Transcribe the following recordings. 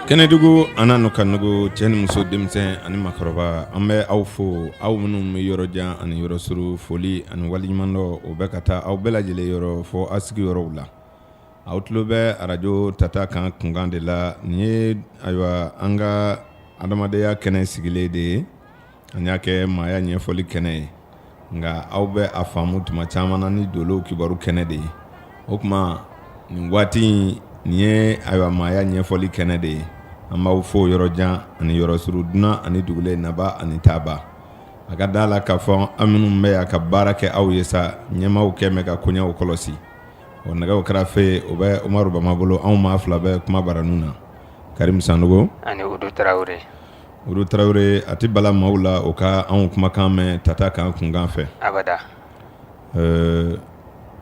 Kɛnɛdugu an n ka nɛgɛ cɛ ni muso denmisɛnnin ani makɔrɔba an bɛ aw fo aw minnu bɛ yɔrɔ jan ani yɔrɔ suru foli ani waleɲumandɔn o bɛ ka taa aw bɛɛ lajɛlen yɔrɔ fɔ aw sigiyɔrɔw la aw tulo bɛ arajo tata kan kunkan de la nin ye ayiwa an ka adamadenya kɛnɛ sigilen de ye An y'a kɛ maaya ɲɛfɔli kɛnɛ ye nka aw bɛ a faamu tuma caman na ni dolo kibaru kɛnɛ de ye o tuma ni waati nin ye ayiwa maaya ɲɛfɔli kɛnɛ de ye an b'aw fo yɔrɔ jan ani yɔrɔ suru dunan ani dugulen nabaa ani taabaa a ka da la k'a fɔ an minnu bɛ yan ka baara kɛ aw ye sa ɲɛmaaw kɛ mɛn ka koɲɛw kɔlɔsi o nɛgɛw karafe o bɛ umaru bama bolo anw maa fila bɛ kuma baranin na karim san Olu tarawele a tɛ bala maaw la o ka anw kumakan mɛn tata kan kunkan fɛ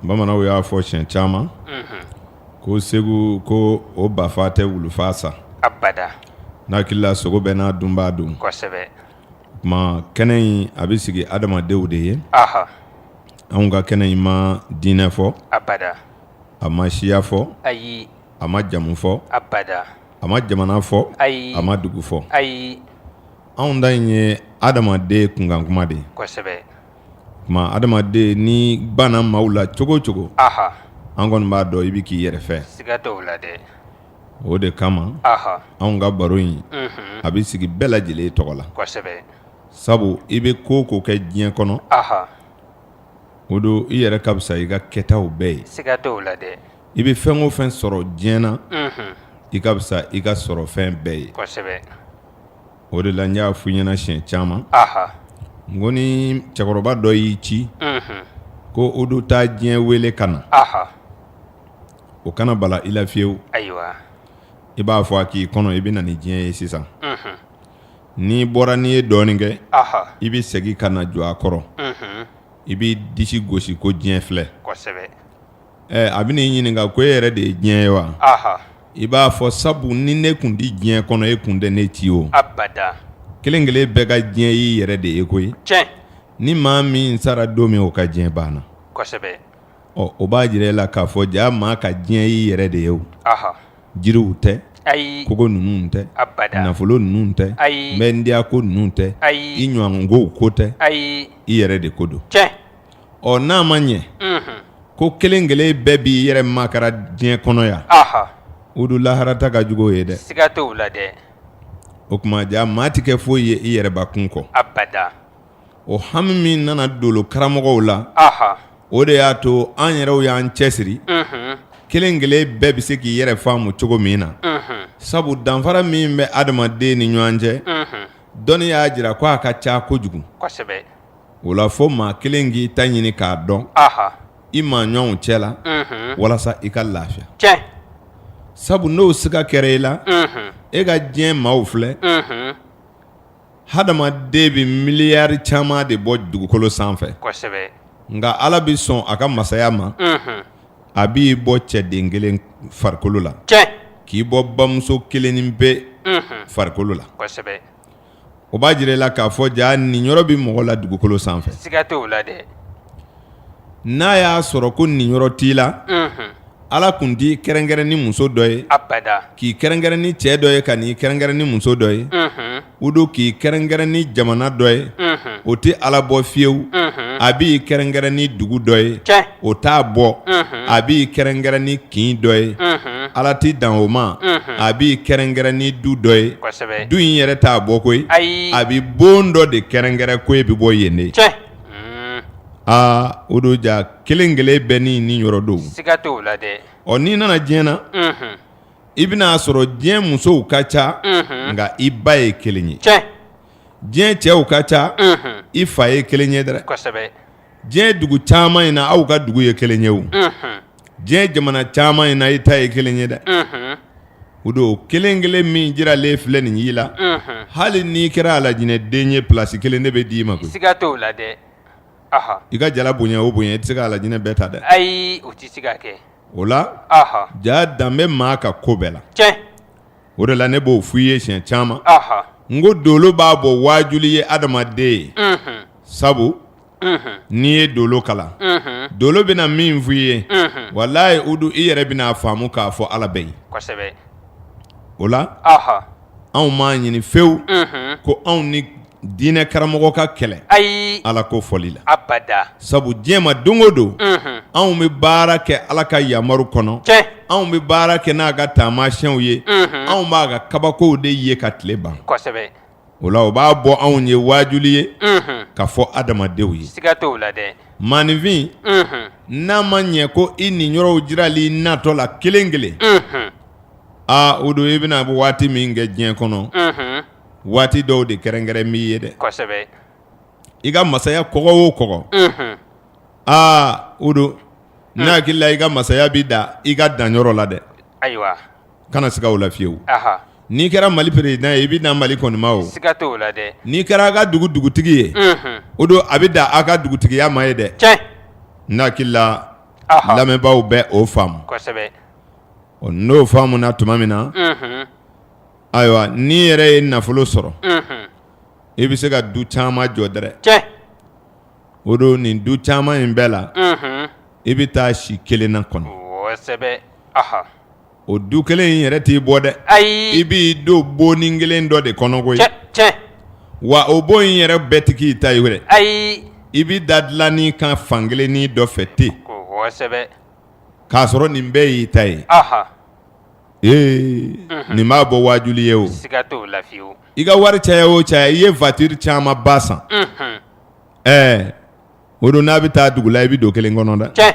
bamananw y'a fɔ siɲɛ caman ko segu ko o bafaa tɛ wulufaa sa n hakili la sogo bɛɛ n'a dunbaa don kuma kɛnɛ in a bɛ sigi adamadenw de ye anw ka kɛnɛ in ma diinɛ fɔ a ma siya fɔ a ma jamu fɔ abada a ma jamana fɔ ayi a ma dugu fɔ ayi anw ta in ye adamaden kunkan kuma de ye kosɛbɛ tuma adamaden n'i banna maaw la cogo o cogo aha an kɔni b'a dɔn i bɛ k'i yɛrɛ fɛ siga t'o la dɛ o de kama aha anw ka baro in unhun a bɛ sigi bɛɛ lajɛlen tɔgɔ la kosɛbɛ sabu i bɛ ko o ko kɛ diɲɛ kɔnɔ aha o don i yɛrɛ ka fisa i ka kɛtaw bɛɛ ye siga t'o la dɛ i bɛ fɛn o fɛn sɔrɔ diɲɛ na i ka fisa i ka sɔrɔfɛn bɛɛ ye kosɛbɛ o de la n y'a fɔ i ɲɛna siɲɛ caman n ko ni cɛkɔrɔba dɔ y'i ci ko o don taa diɲɛ wele ka na o kana bala i la fiyewu ayiwa i b'a fɔ a k'i kɔnɔ i bɛ na ni diɲɛ ye sisan n'i bɔra n'i ye dɔɔnin kɛ i bɛ segin ka na jɔ a kɔrɔ i b'i disi gosi ko diɲɛ filɛ ɛ a bɛna i ɲininka ko e yɛrɛ de ye diɲɛ ye wa, anhan, i b'a fɔ sabu ni ne tun tɛ diɲɛ kɔnɔ e tun tɛ ne ci o, abada, kelen kelen bɛɛ ka diɲɛ y'i yɛrɛ de ye koyi, tiɲɛ, ni maa min sara don min o ka diɲɛ banna, kosɛbɛ, ɔ o b'a jira e la k'a fɔ jaa maa ka diɲɛ y'i yɛrɛ de ye o, anhan, jiriw tɛ, ayi, kogo ninnu tɛ, abada, nafolo ninnu tɛ, ayi, mɛndiyako ninnu tɛ, ayi, i ɲɛngow ko tɛ, ayi, i yɛrɛ de ko don, tiɲɛ. ɔ n'a ma ɲɛ ko kelen kelen bɛɛ b'i yɛrɛ makara diɲɛ kɔnɔ yan o don lahara ta ka jugu ye dɛ o tuma jaa maa tɛ kɛ foyi ye i yɛrɛbakun kɔ o hami min nana dolo karamɔgɔw la o de y'a to an yɛrɛw y'an cɛsiri kelen kelen bɛɛ bɛ se k'i yɛrɛ faamu cogo min na sabu danfara min bɛ adamaden ni ɲɔgɔn cɛ dɔnni y'a jira ko a ka ca kojugu o la fo maa kelen k'i ta ɲini k'a dɔn i maa ɲɔgɔnw cɛ la walasa i ka lafiya sabu n'o siga kɛra i la e ka diɲɛ maaw filɛ hadamaden bɛ miliyari caman de bɔ dugukolo sanfɛ nka ala bɛ sɔn a ka masaya ma a b'i bɔ cɛden kelen farikolo la k'i bɔ bamuso kelennin pe farikolo la o b'a jira i la k'a fɔ jaa niyɔrɔ bɛ mɔgɔ la dugukolo sanfɛ n'a y'a sɔrɔ ko niyɔrɔ t'i la ala kun t'i kɛrɛnkɛrɛn ni muso dɔ ye k'i kɛrɛnkɛrɛn ni cɛ dɔ ye ka n'i kɛrɛnkɛrɛn ni muso dɔ ye o don k'i kɛrɛnkɛrɛn ni jamana dɔ ye o tɛ ala bɔ fiyewu a b'i kɛrɛnkɛrɛn ni dugu dɔ ye o t'a bɔ a b'i kɛrɛnkɛrɛn ni kin dɔ ye ala tɛ dan o ma a b'i kɛrɛnkɛrɛn ni du dɔ ye du in yɛrɛ t'a bɔ koyi a bɛ bon dɔ de kɛrɛnkɛrɛn ko e bɛ bɔ yen de aa o don jaa kelen kelen bɛɛ n'i niyɔrɔ don ɔ n'i nana diɲɛ na i bɛn'a sɔrɔ diɲɛ musow ka ca nka i ba ye kelen ye diɲɛ cɛw ka ca i fa ye kelen ye dɛ diɲɛ dugu caman in na aw ka dugu ye kelen ye o diɲɛ jamana caman in na i ta ye kelen ye dɛ o don kelen kelen min jiralen filɛ nin y'i la hali n'i kɛra alajinɛden ye pilasi kelen ne bɛ d'i ma koyi siga t'o la dɛ i ka jala bonya o bonya i tɛ se ka alajinɛ bɛɛ ta dɛ ayi o tɛ se ka kɛ o la jaa dan bɛ maa ka ko bɛɛ la o de la ne b'o f'i ye siɲɛ caman n ko dolo b'a bɔ waajuli ye adamaden ye sabu n'i ye dolo kalan dolo bɛna min f'i ye walayi o don i yɛrɛ bɛna faamu k'a fɔ ala bɛ yen o la anw m'a ɲini fewu ko anw ni Diinɛ karamɔgɔ ka kɛlɛ ayi ala ko fɔli la abada sabu diɲɛ ma don o don anw bɛ baara kɛ ala ka yamaru kɔnɔ anw bɛ baara kɛ n'a ka taamasiyɛnw ye anw b'a ka kabakow de ye ka tile ban o la o b'a bɔ anw ye waajuli ye ka fɔ adamadenw ye siga t'o la dɛ maaninfin n'a ma ɲɛ ko i niyɔrɔw jirali natɔ la kelen kelen aa o don i bɛna a bɛ waati min kɛ diɲɛ kɔnɔ waati dɔw de kɛrɛnkɛrɛnnen b'i ye dɛ, kosɛbɛ, i ka masaya kɔgɔ o kɔgɔ, unhun, aa o don ne hakili la i ka masaya bɛ dan i ka dan yɔrɔ la dɛ, ayiwa, kana siga o la fiyewu, anhan, n'i kɛra Mali président ye i bɛ dan Mali kɔni ma o, siga t'o la dɛ, n'i kɛra a ka dugu dugutigi ye, unhun, o don a bɛ dan a ka dugutigiya ma ye dɛ, tiɲɛ, ne hakili la lamɛnbaaw bɛ o faamu, kosɛbɛ, ɔ n'o faamuna tuma min na, unhun. Ayiwa n'i yɛrɛ ye nafolo sɔrɔ i bɛ se ka du caman jɔ dɛrɛ o don nin du caman in bɛɛ la i bɛ taa si kelen na kɔnɔ o du kelen in yɛrɛ t'i bɔ dɛ ayi i b'i don bonnin kelen dɔ de kɔnɔ koyi wa o bon in yɛrɛ bɛɛ tɛ k'i ta ye dɛrɛ ayi i bɛ da dilannin kan fan kelennin dɔ fɛ ten k'a sɔrɔ nin bɛɛ y'i ta ye nin b'a bɔ waajuli ye o i ka wari caya o caya i ye voiture caman ba san ɛɛ o don n'a bɛ taa dugu la i bɛ don kelen kɔnɔ dɛ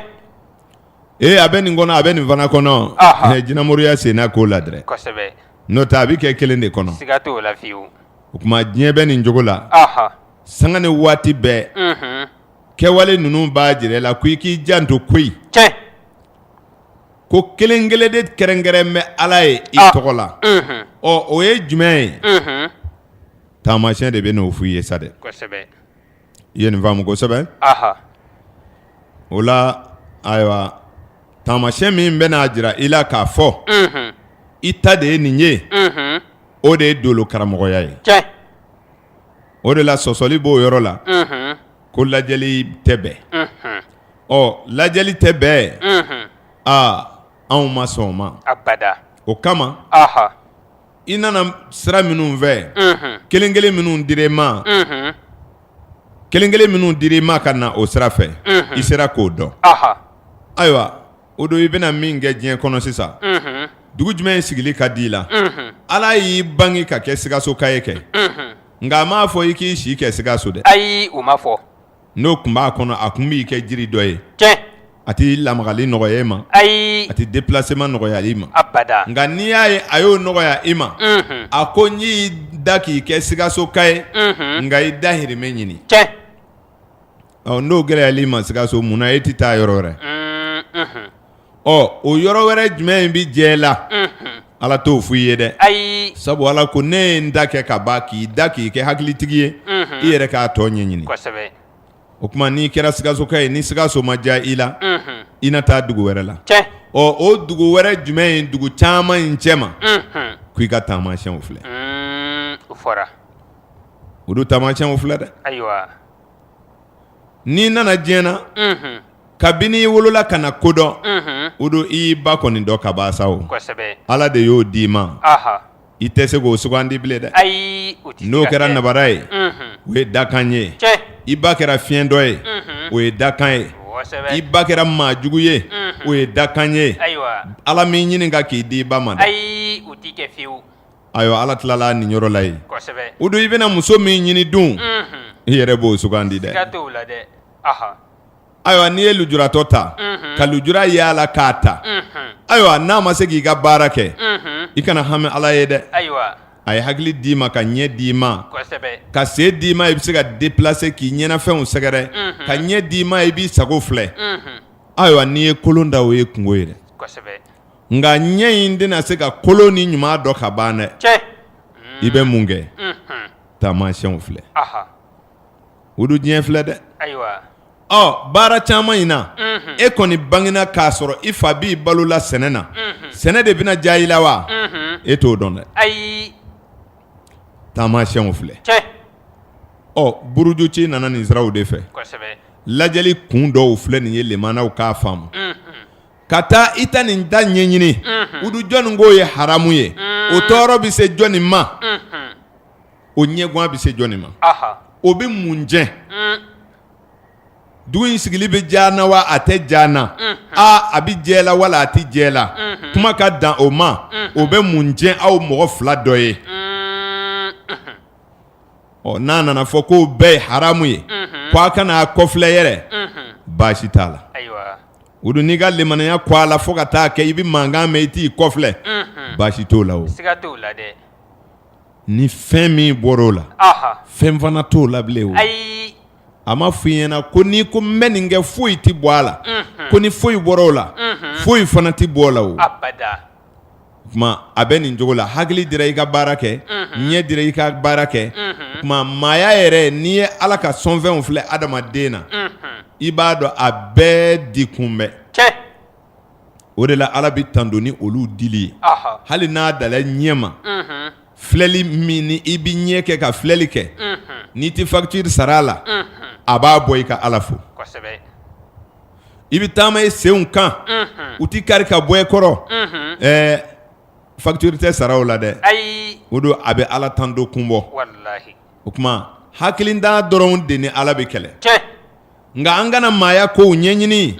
ee a bɛ nin kɔnɔ a bɛ nin fana kɔnɔ jinɛmoriya sen na k'o la dɛrɛ n'o tɛ a bɛ kɛ kelen de kɔnɔ o tuma diɲɛ bɛ nin cogo la sanga ni waati bɛɛ kɛwale ninnu b'a jira i la ko i k'i janto koyi ko kelen kelen de kɛrɛnkɛrɛn bɛ ala ye i tɔgɔ la ɔ o ye jumɛn ye taamacɛn de bɛ n'o fɔ i ye sa dɛ i ye nin faamu kosɛbɛ o la ayiwa taamacɛn min bɛ n'a jira i la k'a fɔ i ta de ye nin ye o de ye dolo karamɔgɔya ye o de la sɔsɔli b'o yɔrɔ la ko lajɛli tɛ bɛn ɔ lajɛli tɛ bɛn aa anw ma sɔn o ma o kama i nana sira minnu fɛ kelen kelen minnu dir'i ma kelen kelen minnu dir'i ma ka na o sira fɛ i sera k'o dɔn ayiwa o don i bɛna min kɛ diɲɛ kɔnɔ sisan dugu jumɛn in sigili ka di i la ala y'i bange ka kɛ sikasoka ye kɛ Nka a m'a fɔ i k'i si kɛ sikaso dɛ ayi o ma fɔ n'o tun b'a kɔnɔ a tun b'i kɛ jiri dɔ ye tiɲɛ a t'i lamagali nɔgɔya i ma ayi a tɛ déplacement nɔgɔya i ma abada nka n'i y'a ye a y'o nɔgɔya i ma a ko n y'i da k'i kɛ sikasoka ye nka i dahirimɛ ɲini kɛ ɔ n'o gɛlɛyara i ma sikaso mun na e tɛ taa yɔrɔ wɛrɛ ɔ o yɔrɔ wɛrɛ jumɛn in bɛ jɛ la ala t'o f' i ye dɛ ayi sabu ala ko ne ye n da kɛ ka ban k'i da k'i kɛ hakilitigi ye i yɛrɛ k'a tɔ ɲɛɲini o tuma n'i kɛra sikasoka ye ni sikaso ma diya i la i na taa dugu wɛrɛ la ɔ o dugu wɛrɛ jumɛn in dugu caman in cɛma k' i ka taamasiyɛnw filɛ o don taamasiyɛnw filɛ dɛ N'i nana diɲɛ na kabini i wolola ka na ko dɔn o don i y'i ba kɔni dɔn ka ban sa o ala de y'o di i ma i tɛ se k'o sugandi bilen dɛ ayi n'o kɛra nabara ye o ye dakan ye i ba kɛra fiyentɔ ye o ye dakan ye i ba kɛra maa jugu ye o ye dakan ye ala m'i ɲininka k'i di i ba ma Ayiwa ala tilala nin yɔrɔ la yen o don i bɛna muso min ɲini dun i yɛrɛ b'o sugandi dɛ ayiwa n'i ye lujuratɔ ta ka lujura y'a la k'a ta ayiwa n'a ma se k'i ka baara kɛ i kana hami ala ye dɛ a ye hakili d'i ma ka ɲɛ d'i ma ka sen d'i ma i bɛ se ka deplase k'i ɲɛnafɛnw sɛgɛrɛ ka ɲɛ d'i ma i b'i sago filɛ ayiwa n'i ye kolon ta o y'i kunko ye nka ɲɛ in tɛna se ka kolon ni ɲuman dɔn ka ban dɛ i bɛ mun kɛ taamasiyɛnw filɛ udu diɲɛ filɛ dɛ ɔ baara caman in na e kɔni bangena k'a sɔrɔ i fa b'i balo la sɛnɛ na sɛnɛ de bɛna diya i la wa e t'o dɔn dɛ taamasiyɛnw filɛ ɔ buruju ci nana nin siraw de fɛ lajɛli kun dɔw filɛ nin ye lamɛnnaw k'a faamu ka taa i ta nin da ɲɛɲini udu jɔnni k'o ye haramu ye o tɔɔrɔ bɛ se jɔnni ma o ɲɛgwan bɛ se jɔnni ma o bɛ mun cɛn dugu in sigili bɛ diya n na wa a tɛ diya n na aa a bɛ jɛ la wala a tɛ jɛ la kuma ka dan o ma o bɛ mun cɛn aw mɔgɔ fila dɔ ye ɔ n'a nana fɔ k'o bɛɛ ye haramu ye k' a kana a kɔfilɛ yɛrɛ baasi t'a la O don n'i ka limaniya ko a la fo ka taa kɛ i bɛ mankan mɛn i t'i kɔfilɛ baasi t'o la o ni fɛn min bɔra o la fɛn fana t'o la bilen o a ma f'i ɲɛ na ko n'i ko n bɛ nin kɛ foyi tɛ bɔ a la ko ni foyi bɔra o la foyi fana tɛ b'o la o a bɛ nin cogo la hakili dira i ka baara kɛ ɲɛ dira i ka baara kɛ kuma maaya yɛrɛ n'i ye ala ka sɔnfɛnw filɛ adamaden na i b'a dɔn a bɛɛ di kun bɛ o de la ala bɛ tando ni olu dili ye hali n'a dala ɲɛ ma filɛli min ni i bɛ ɲɛ kɛ ka filɛli kɛ n'i tɛ fakitiri sara a la a b'a bɔ i ka ala fo i bɛ taama e senw kan u tɛ kari ka bɔ e kɔrɔ ɛɛ fakitiri tɛ sara u la dɛ o don a bɛ ala tando kun bɔ o tuma hakilintan dɔrɔn de ni ala bɛ kɛlɛ nka an kana maaya kow ɲɛɲini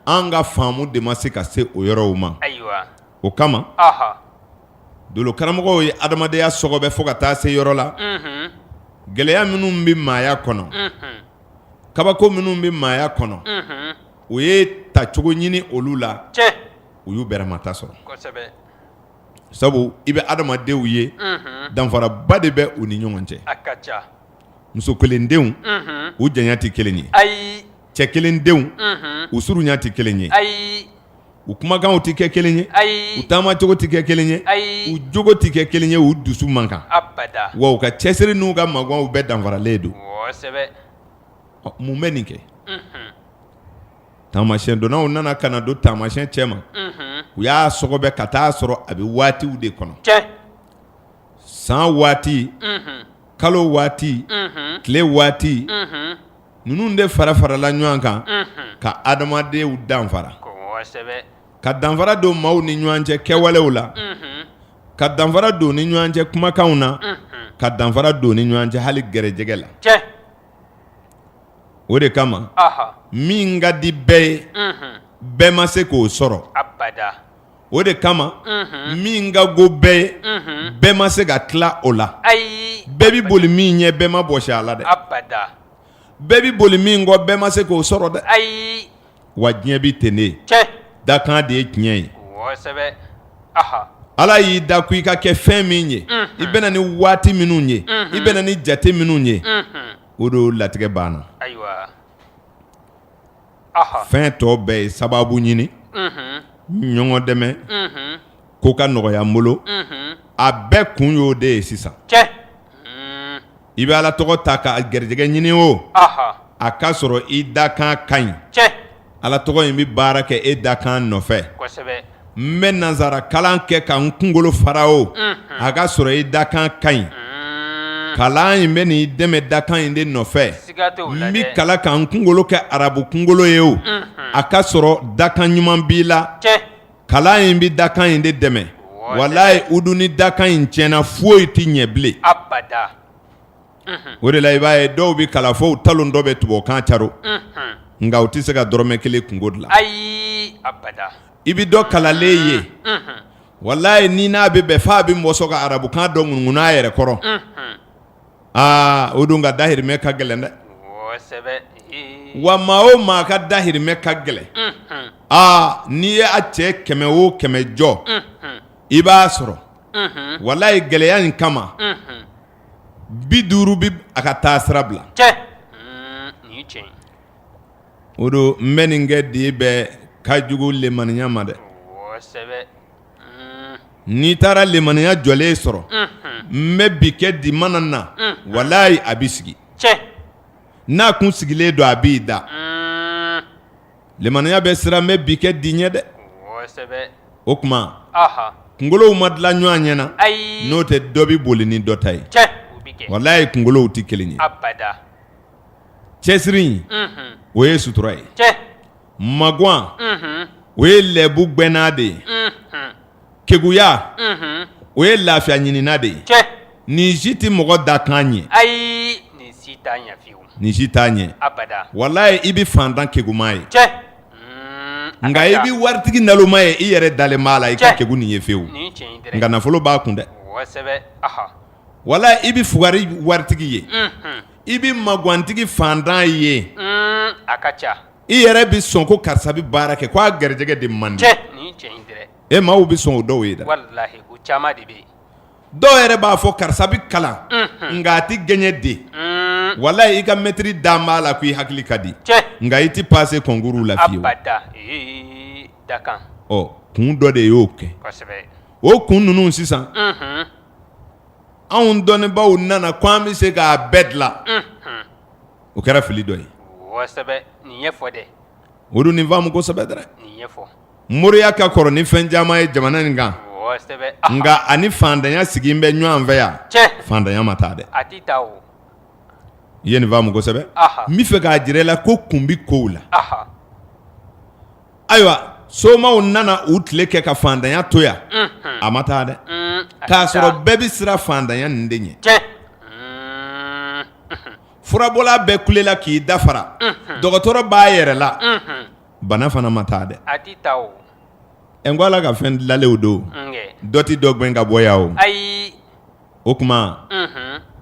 an ka faamu de ma se ka se o yɔrɔw ma o kama dolo karamɔgɔw ye adamadenya sɔgɔbɛ fo ka taa se yɔrɔ la gɛlɛya minnu bɛ maaya kɔnɔ kabako minnu bɛ maaya kɔnɔ u ye tacogo ɲini olu la u y'u bɛrɛmata sɔrɔ sabu i bɛ adamadenw ye danfaraba de bɛ u ni ɲɔgɔn cɛ muso kelendenw u janya tɛ kelen ye cɛ kelendenw u surunya tɛ kelen ye u kumakanw tɛ kɛ kelen ye ayi u taamacogo tɛ kɛ kelen ye ayi u jogo tɛ kɛ kelen ye u dusu man kan abada wa u ka cɛsiri n'u ka maganw bɛɛ danfaralen don kosɛbɛ ɔ mun bɛ nin kɛ unhun taamasiyɛn donnaw nana ka na don taamasiyɛn cɛ ma unhun u y'a sɔgɔbɛ ka taa sɔrɔ a bɛ waatiw de kɔnɔ tiɲɛ san waati unhun kalo waati unhun tile waati unhun ninnu de fara farala ɲɔgɔn kan ka adamadenw danfara ka danfara don maaw ni ɲɔgɔn cɛ kɛwalew la ka danfara don ni ɲɔgɔn cɛ kumakanw na ka danfara don ni ɲɔgɔn cɛ hali gɛrɛjɛgɛ la o de kama min ka di bɛɛ ye bɛɛ ma se k'o sɔrɔ o de kama min ka go bɛɛ ye bɛɛ ma se ka tila o la bɛɛ bɛ boli min ɲɛ bɛɛ ma bɔsi a la dɛ bɛɛ bɛ boli min kɔ bɛɛ ma se k'o sɔrɔ dɛ wa diɲɛ bɛ ten de dakan de ye tiɲɛ ye ala y'i da ko i ka kɛ fɛn min ye i bɛna ni waati minnu ye i bɛna ni jate minnu ye o don latigɛ banna fɛn tɔ bɛɛ ye sababu ɲini ɲɔgɔn dɛmɛ ko ka nɔgɔya bolo a bɛɛ kun y'o de ye sisan i bɛ ala tɔgɔ ta ka gɛrɛjɛgɛ ɲini o a k'a sɔrɔ i dakan ka ɲi ala tɔgɔ in bɛ baara kɛ e dakan nɔfɛ n bɛ nansara kalan kɛ ka n kunkolo fara o a k'a sɔrɔ i dakan ka ɲi kalan in bɛ n'i dɛmɛ dakan in de nɔfɛ n bɛ kalan ka n kunkolo kɛ arabu kunkolo ye o a k'a sɔrɔ dakan ɲuman b'i la kalan in bɛ dakan in de dɛmɛ walayi udu ni dakan in tiɲɛna foyi tɛ ɲɛ bilen o de la i b'a ye dɔw bɛ kalan fo talon dɔ bɛ tubabukan caro nka u tɛ se ka dɔrɔmɛ kelen kunko dilan ayi i bɛ dɔ kalanlen ye walayi ni n'a bɛ bɛn f'a bɛ mɔsɔn ka arabukan dɔ ŋunuŋunu a yɛrɛ kɔrɔ aa o don ka dahirimɛ ka gɛlɛn dɛ wa maa o maa ka dahirimɛ ka gɛlɛn aa n'i y'a cɛ kɛmɛ o kɛmɛ jɔ i b'a sɔrɔ walayi gɛlɛya in kama bi duuru bɛ a ka taa sira bila cɛ o don n bɛ nin kɛ di bɛ ka jugu limaniya ma dɛ n'i taara limaniya jɔlen sɔrɔ n bɛ bi kɛ di mana na walayi a b'i sigi n'a kun sigilen don a b'i da Limaniya bɛ siran n bɛ bi kɛ di ɲɛ dɛ o tuma kunkolow ma dilan ɲɔgɔn ɲɛ na n'o tɛ dɔ bɛ boli ni dɔ ta ye walayi kunkolow tɛ kelen ye cɛsiri o ye sutura ye magwan o ye lɛbu gwɛnna de ye keguya o ye lafiya ɲinina de ye nin si tɛ mɔgɔ dakan ɲɛ ayi nin si t'a ɲɛ walayi i bɛ faantan keguma ye nka i bɛ waritigi naloma ye i yɛrɛ dalen b'a la i ka kegu nin ye fewu nka nafolo b'a kun dɛ walayi i bɛ fugari waritigi ye i bɛ magantigi faantan ye i yɛrɛ bɛ sɔn ko karisa bɛ baara kɛ k'a garijɛgɛ de man di e maaw bɛ sɔn o dɔw ye dɔw yɛrɛ b'a fɔ karisa bɛ kalan nka a tɛ gɛɲɛ de walayi i ka mɛtiri dalen b'a la ko i hakili ka di nka i tɛ pase kɔnkuru la kun dɔ de y'o kɛ o kun ninnu sisan anw dɔnnibaaw nana ko an bɛ se k'a bɛɛ dilan o kɛra fili dɔ ye odu nin faamu kosɛbɛ dɛ moriya ka kɔrɔ ni fɛn caman ye jamana in kan nka a ni faantanya sigi bɛ ɲɔgɔn fɛ yan faantanya ma taa dɛ i ye nin faamu kosɛbɛ n b'a fɛ k'a jira i la ko kun bɛ kow la ayiwa somaw nana u tile kɛ ka faantanya to yan a ma taa dɛ k'a sɔrɔ bɛɛ bɛ siran faantanya nin de ɲɛ furabɔla bɛɛ kulela k'i dafara dɔgɔtɔrɔ b'a yɛrɛ la bana fana ma taa dɛ n ko ala ka fɛn dilanlenw don dɔ tɛ dɔ gɛn ka bɔ yan o o tuma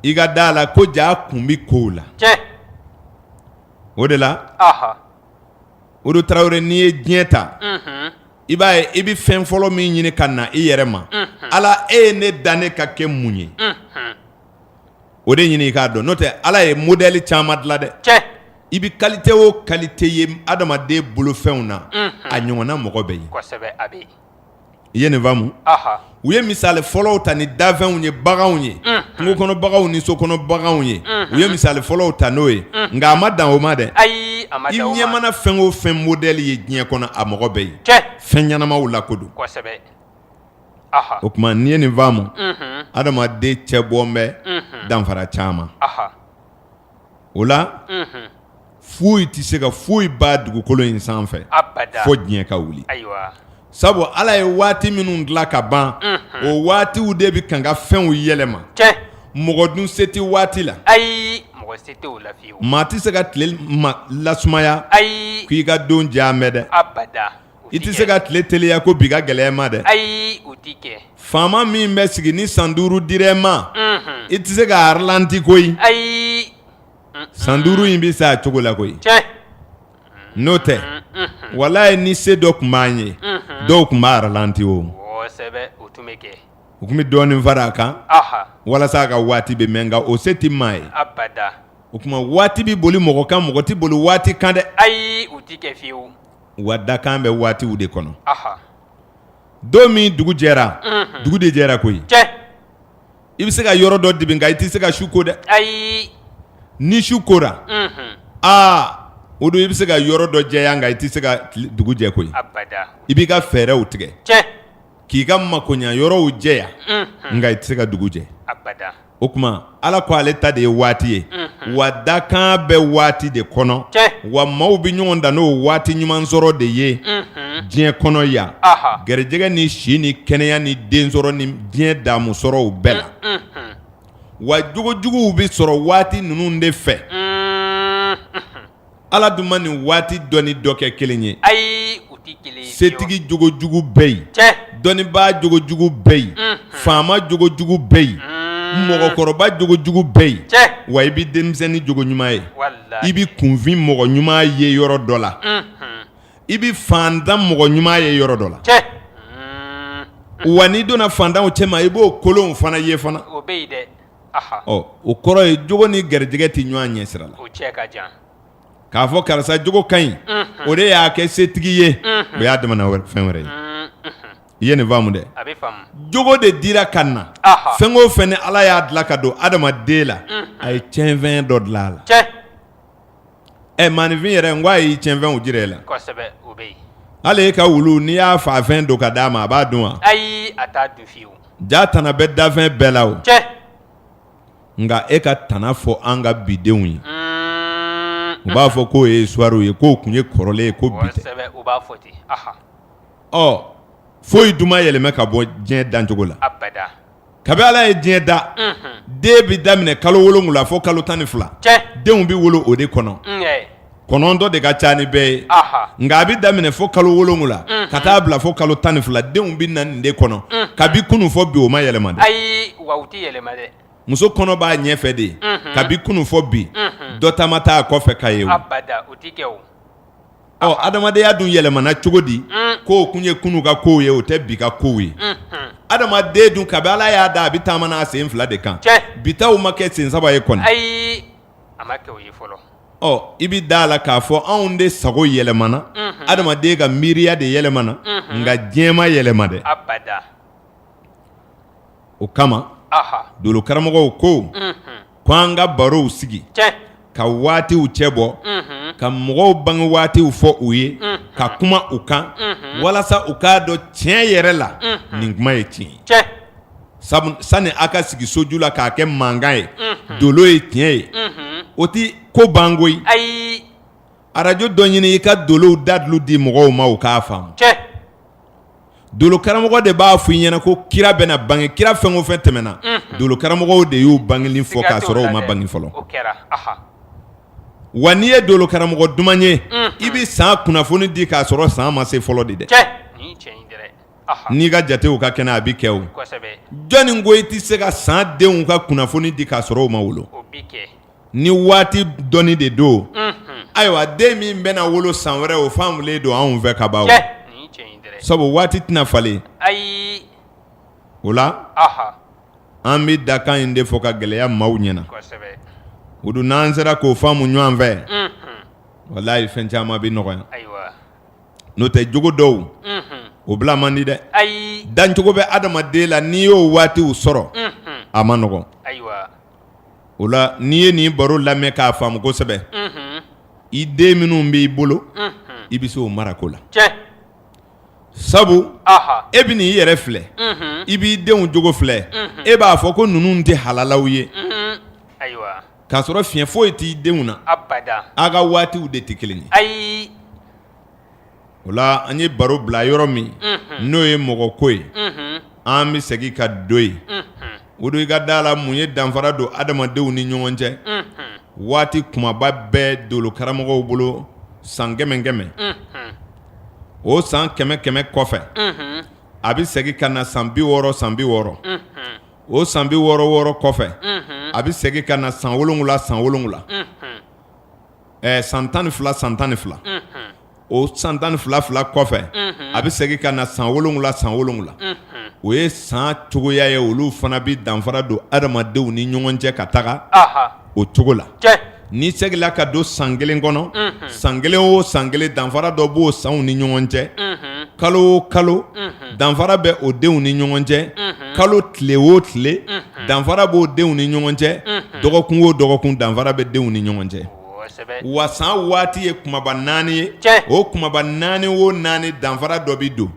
i ka da a la ko jaa kun bɛ kow la o de la odu tarawele n'i ye diɲɛ ta i b'a ye i bɛ fɛn fɔlɔ min ɲini ka na i yɛrɛ ma ala e ye ne dan ne ka kɛ mun ye o de ɲini i k'a dɔn n'o tɛ ala ye modɛli caman dilan dɛ i bɛ kalite o kalite ye adamaden bolofɛnw na a ɲɔgɔnna mɔgɔ bɛ yen i ye nin faamu u ye misali fɔlɔw ta ni dafɛnw ye baganw ye kungo kɔnɔ baganw ni so kɔnɔ baganw ye u ye misali fɔlɔw ta n'o ye nka a ma dan o ma dɛ ayi i ɲɛ mana fɛn o fɛn modɛli ye diɲɛ kɔnɔ a mɔgɔ bɛ yen fɛn ɲɛnamaw la ko don o tuma n'i ye nin faamu adamaden cɛ bɔ bɛ danfara caman o la foyi tɛ se ka foyi ban dugukolo in sanfɛ fo diɲɛ ka wuli sabu ala ye waati minnu dilan ka ban o waatiw de bɛ kan ka fɛnw yɛlɛma mɔgɔ dun se tɛ waati la ayi maa tɛ se ka tile lasumaya ayi k'i ka don jan an bɛ dɛ I tɛ se ka tile teliya ko bi ka gɛlɛya ma dɛ ayi o tɛ kɛ faama min bɛ sigi ni san duuru dira i ma i tɛ se k'a ralanti koyi ayi san duuru in bɛ se a cogo la koyi n'o tɛ walahi ni se dɔ tun b'an ye dɔw tun b'a ralanti o kosɛbɛ o tun bɛ kɛ u tun bɛ dɔɔnin fara a kan walasa a ka waati bɛ mɛn nka o se tɛ maa ye o tuma waati bɛ boli mɔgɔ kan mɔgɔ tɛ boli waati kan dɛ ayi wa dakan bɛ waatiw de kɔnɔ don min dugu jɛra dugu de jɛra koyi i bɛ se ka yɔrɔ dɔ dibi nka i tɛ se ka su ko dɛ ayi ni su kora aa o don i bɛ se ka yɔrɔ dɔ jɛya nka i tɛ se ka dugu jɛ koyi i b'i ka fɛɛrɛw tigɛ k'i ka makoɲɛ yɔrɔw jɛya nka i tɛ se ka dugu jɛ o tuma ala ko ale ta de ye waati ye wa dakan bɛ waati de kɔnɔ wa maaw bɛ ɲɔgɔn dan n'o waati ɲuman sɔrɔ de ye diɲɛ kɔnɔ yan garijɛgɛ ni si ni kɛnɛya ni den sɔrɔ ni diɲɛ daamu sɔrɔw bɛɛ la wa jogo juguw bɛ sɔrɔ waati ninnu de fɛ Ala dun ma nin waati dɔ ni dɔ kɛ kelen ye, ayi u tɛ kelen ye, setigi jogo jugu bɛ yen, tiɲɛ, dɔnnibaa jogo jugu bɛ yen, unhun, faama jogo jugu bɛ yen, un, mɔgɔkɔrɔba jogo jugu bɛ yen, tiɲɛ, wa i bɛ denmisɛnnin jogo ɲuman ye, walahi, i bɛ kunfin mɔgɔ ɲuman ye yɔrɔ dɔ la, unhun, i bɛ faantan mɔgɔ ɲuman ye yɔrɔ dɔ la, tiɲɛ, un, wa n'i donna faantanw cɛma i b'o kolonw fana ye fana, o bɛ yen dɛ o kɔrɔ ye jogo ni garijɛgɛ tɛ ɲɔgɔn ɲɛ sira la k'a fɔ karisa jogo ka ɲi o de y'a kɛ setigi ye o y'a damana fɛn wɛrɛ ye i ye nin faamu dɛ jogo de dira ka na fɛn o fɛn ni ala y'a dilan ka don adamaden la a ye tiɲɛfɛn dɔ dilan a la Ɛ maaninfin yɛrɛ n ko a y'i tiɲɛfɛnw jira e la, kosɛbɛ, o bɛ yen, hali e ka wulu n'i y'a faa fɛn don ka d'a ma a b'a dun wa? Ayi a t'a dun fiyewu, jaa tana bɛ danfɛn bɛɛ la o, cɛ, nka e ka tana fɔ an ka bi denw ye, un, u b'a fɔ k'o ye histoire ye k'o tun ye kɔrɔlen ye ko bi tɛ, kosɛbɛ, u b'a fɔ ten, ɔhɔ, ɔ foyi dun ma yɛlɛma ka bɔ diɲɛ dancogo la, abada Kabi ala ye diɲɛ da den bɛ daminɛ kalo wolonwula fo kalo tan ni fila denw bɛ wolo o de kɔnɔ kɔnɔntɔn de ka ca ni bɛɛ ye nka a bɛ daminɛ fo kalo wolonwula ka taa bila fo kalo tan ni fila denw bɛ na nin de kɔnɔ kabi kunun fo bi o ma yɛlɛma dɛ ayi wa u tɛ yɛlɛma dɛ muso kɔnɔ b'a ɲɛfɛ de kabi kunun fo bi dɔ ta ma taa kɔfɛ ka ye Ɔ adamadenya dun yɛlɛmana cogo di k'o tun ye kunun ka kow ye o tɛ bi ka kow ye adamaden dun kabi Ala y'a da a bɛ taama n'a sen fila de kan bi taw ma kɛ sen saba ye kɔni ayi a ma kɛ o ye fɔlɔ ɔ i bɛ d'a la k'a fɔ anw de sago yɛlɛmana adamaden ka miiriya de yɛlɛmana nka diɲɛ ma yɛlɛma dɛ abada. o kama dolo karamɔgɔw ko ko an ka barow sigi ka waatiw cɛ bɔ ka mɔgɔw bange waatiw fɔ u ye ka kuma u kan walasa u k'a dɔn tiɲɛ yɛrɛ la nin kuma ye tiɲɛ ye sabu sani aw ka sigi soju la k'a kɛ mankan ye dolo ye tiɲɛ ye o tɛ ko ban ko ye ayi arajo dɔ ɲini i ka dolow dalilu di mɔgɔw ma u k'a faamu dolo karamɔgɔ de b'a f' i ɲɛna ko kira bɛna bange kira fɛn o fɛn tɛmɛna dolo karamɔgɔw de y'u bangeli fɔ k'a sɔrɔ u ma bange fɔlɔ wa n'i ye dolo karamɔgɔ duman ye i bɛ san kunnafoni di k'a sɔrɔ san ma se fɔlɔ de dɛ n'i ka jatew ka kɛnɛ a bɛ kɛ o jɔnni ko i tɛ se ka san denw ka kunnafoni di k'a sɔrɔ u ma wolo Ni waati dɔnni de don ayiwa den min bɛna wolo san wɛrɛ o faamulen don anw fɛ ka ban sabu waati tɛna falen o la an bɛ dakan in de fɔ ka gɛlɛya maaw ɲɛna o dun n'an sera k'o faamu ɲɔgɔn fɛ walayi fɛn caman bɛ nɔgɔya n'o tɛ jogo dɔw o bila man di dɛ dancogo bɛ adamaden la n'i y'o waatiw sɔrɔ a man nɔgɔn o la n'i ye nin baro lamɛn k'a faamu kosɛbɛ i den minnu b'i bolo i bɛ se o mara ko la sabu e bɛn'i yɛrɛ filɛ i b'i denw jogo filɛ e b'a fɔ ko ninnu tɛ halalaw ye k'a sɔrɔ fiɲɛ foyi t'i denw na a ka waatiw de tɛ kelen ye o la an ye baro bila yɔrɔ min n'o ye mɔgɔ ko ye an bɛ segin ka don yen o don i ka da la mun ye danfara don adamadenw ni ɲɔgɔn cɛ waati kumaba bɛɛ dolo karamɔgɔw bolo san kɛmɛ kɛmɛ o san kɛmɛ kɛmɛ kɔfɛ a bɛ segin ka na san bi wɔɔrɔ san bi wɔɔrɔ o san bi wɔɔrɔ wɔɔrɔ kɔfɛ a bɛ segin ka na san wolonwula san wolonwula ɛɛ san tan ni fila san tan ni fila o san tan ni fila fila kɔfɛ a bɛ segin ka na san wolonwula san wolonwula o ye san cogoya ye olu fana bɛ danfara don adamadenw ni ɲɔgɔn cɛ ka taga o cogo la n'i seginla ka don san kelen kɔnɔ san kelen o san kelen danfara dɔ b'o sanw ni ɲɔgɔn cɛ kalo o kalo danfara bɛ o denw ni ɲɔgɔn cɛ kalo tile o tile danfara bɛ o denw ni ɲɔgɔn cɛ dɔgɔkun o dɔgɔkun danfara bɛ denw ni ɲɔgɔn cɛ wa san waati ye kumaba naani ye o kumaba naani o naani danfara dɔ bɛ don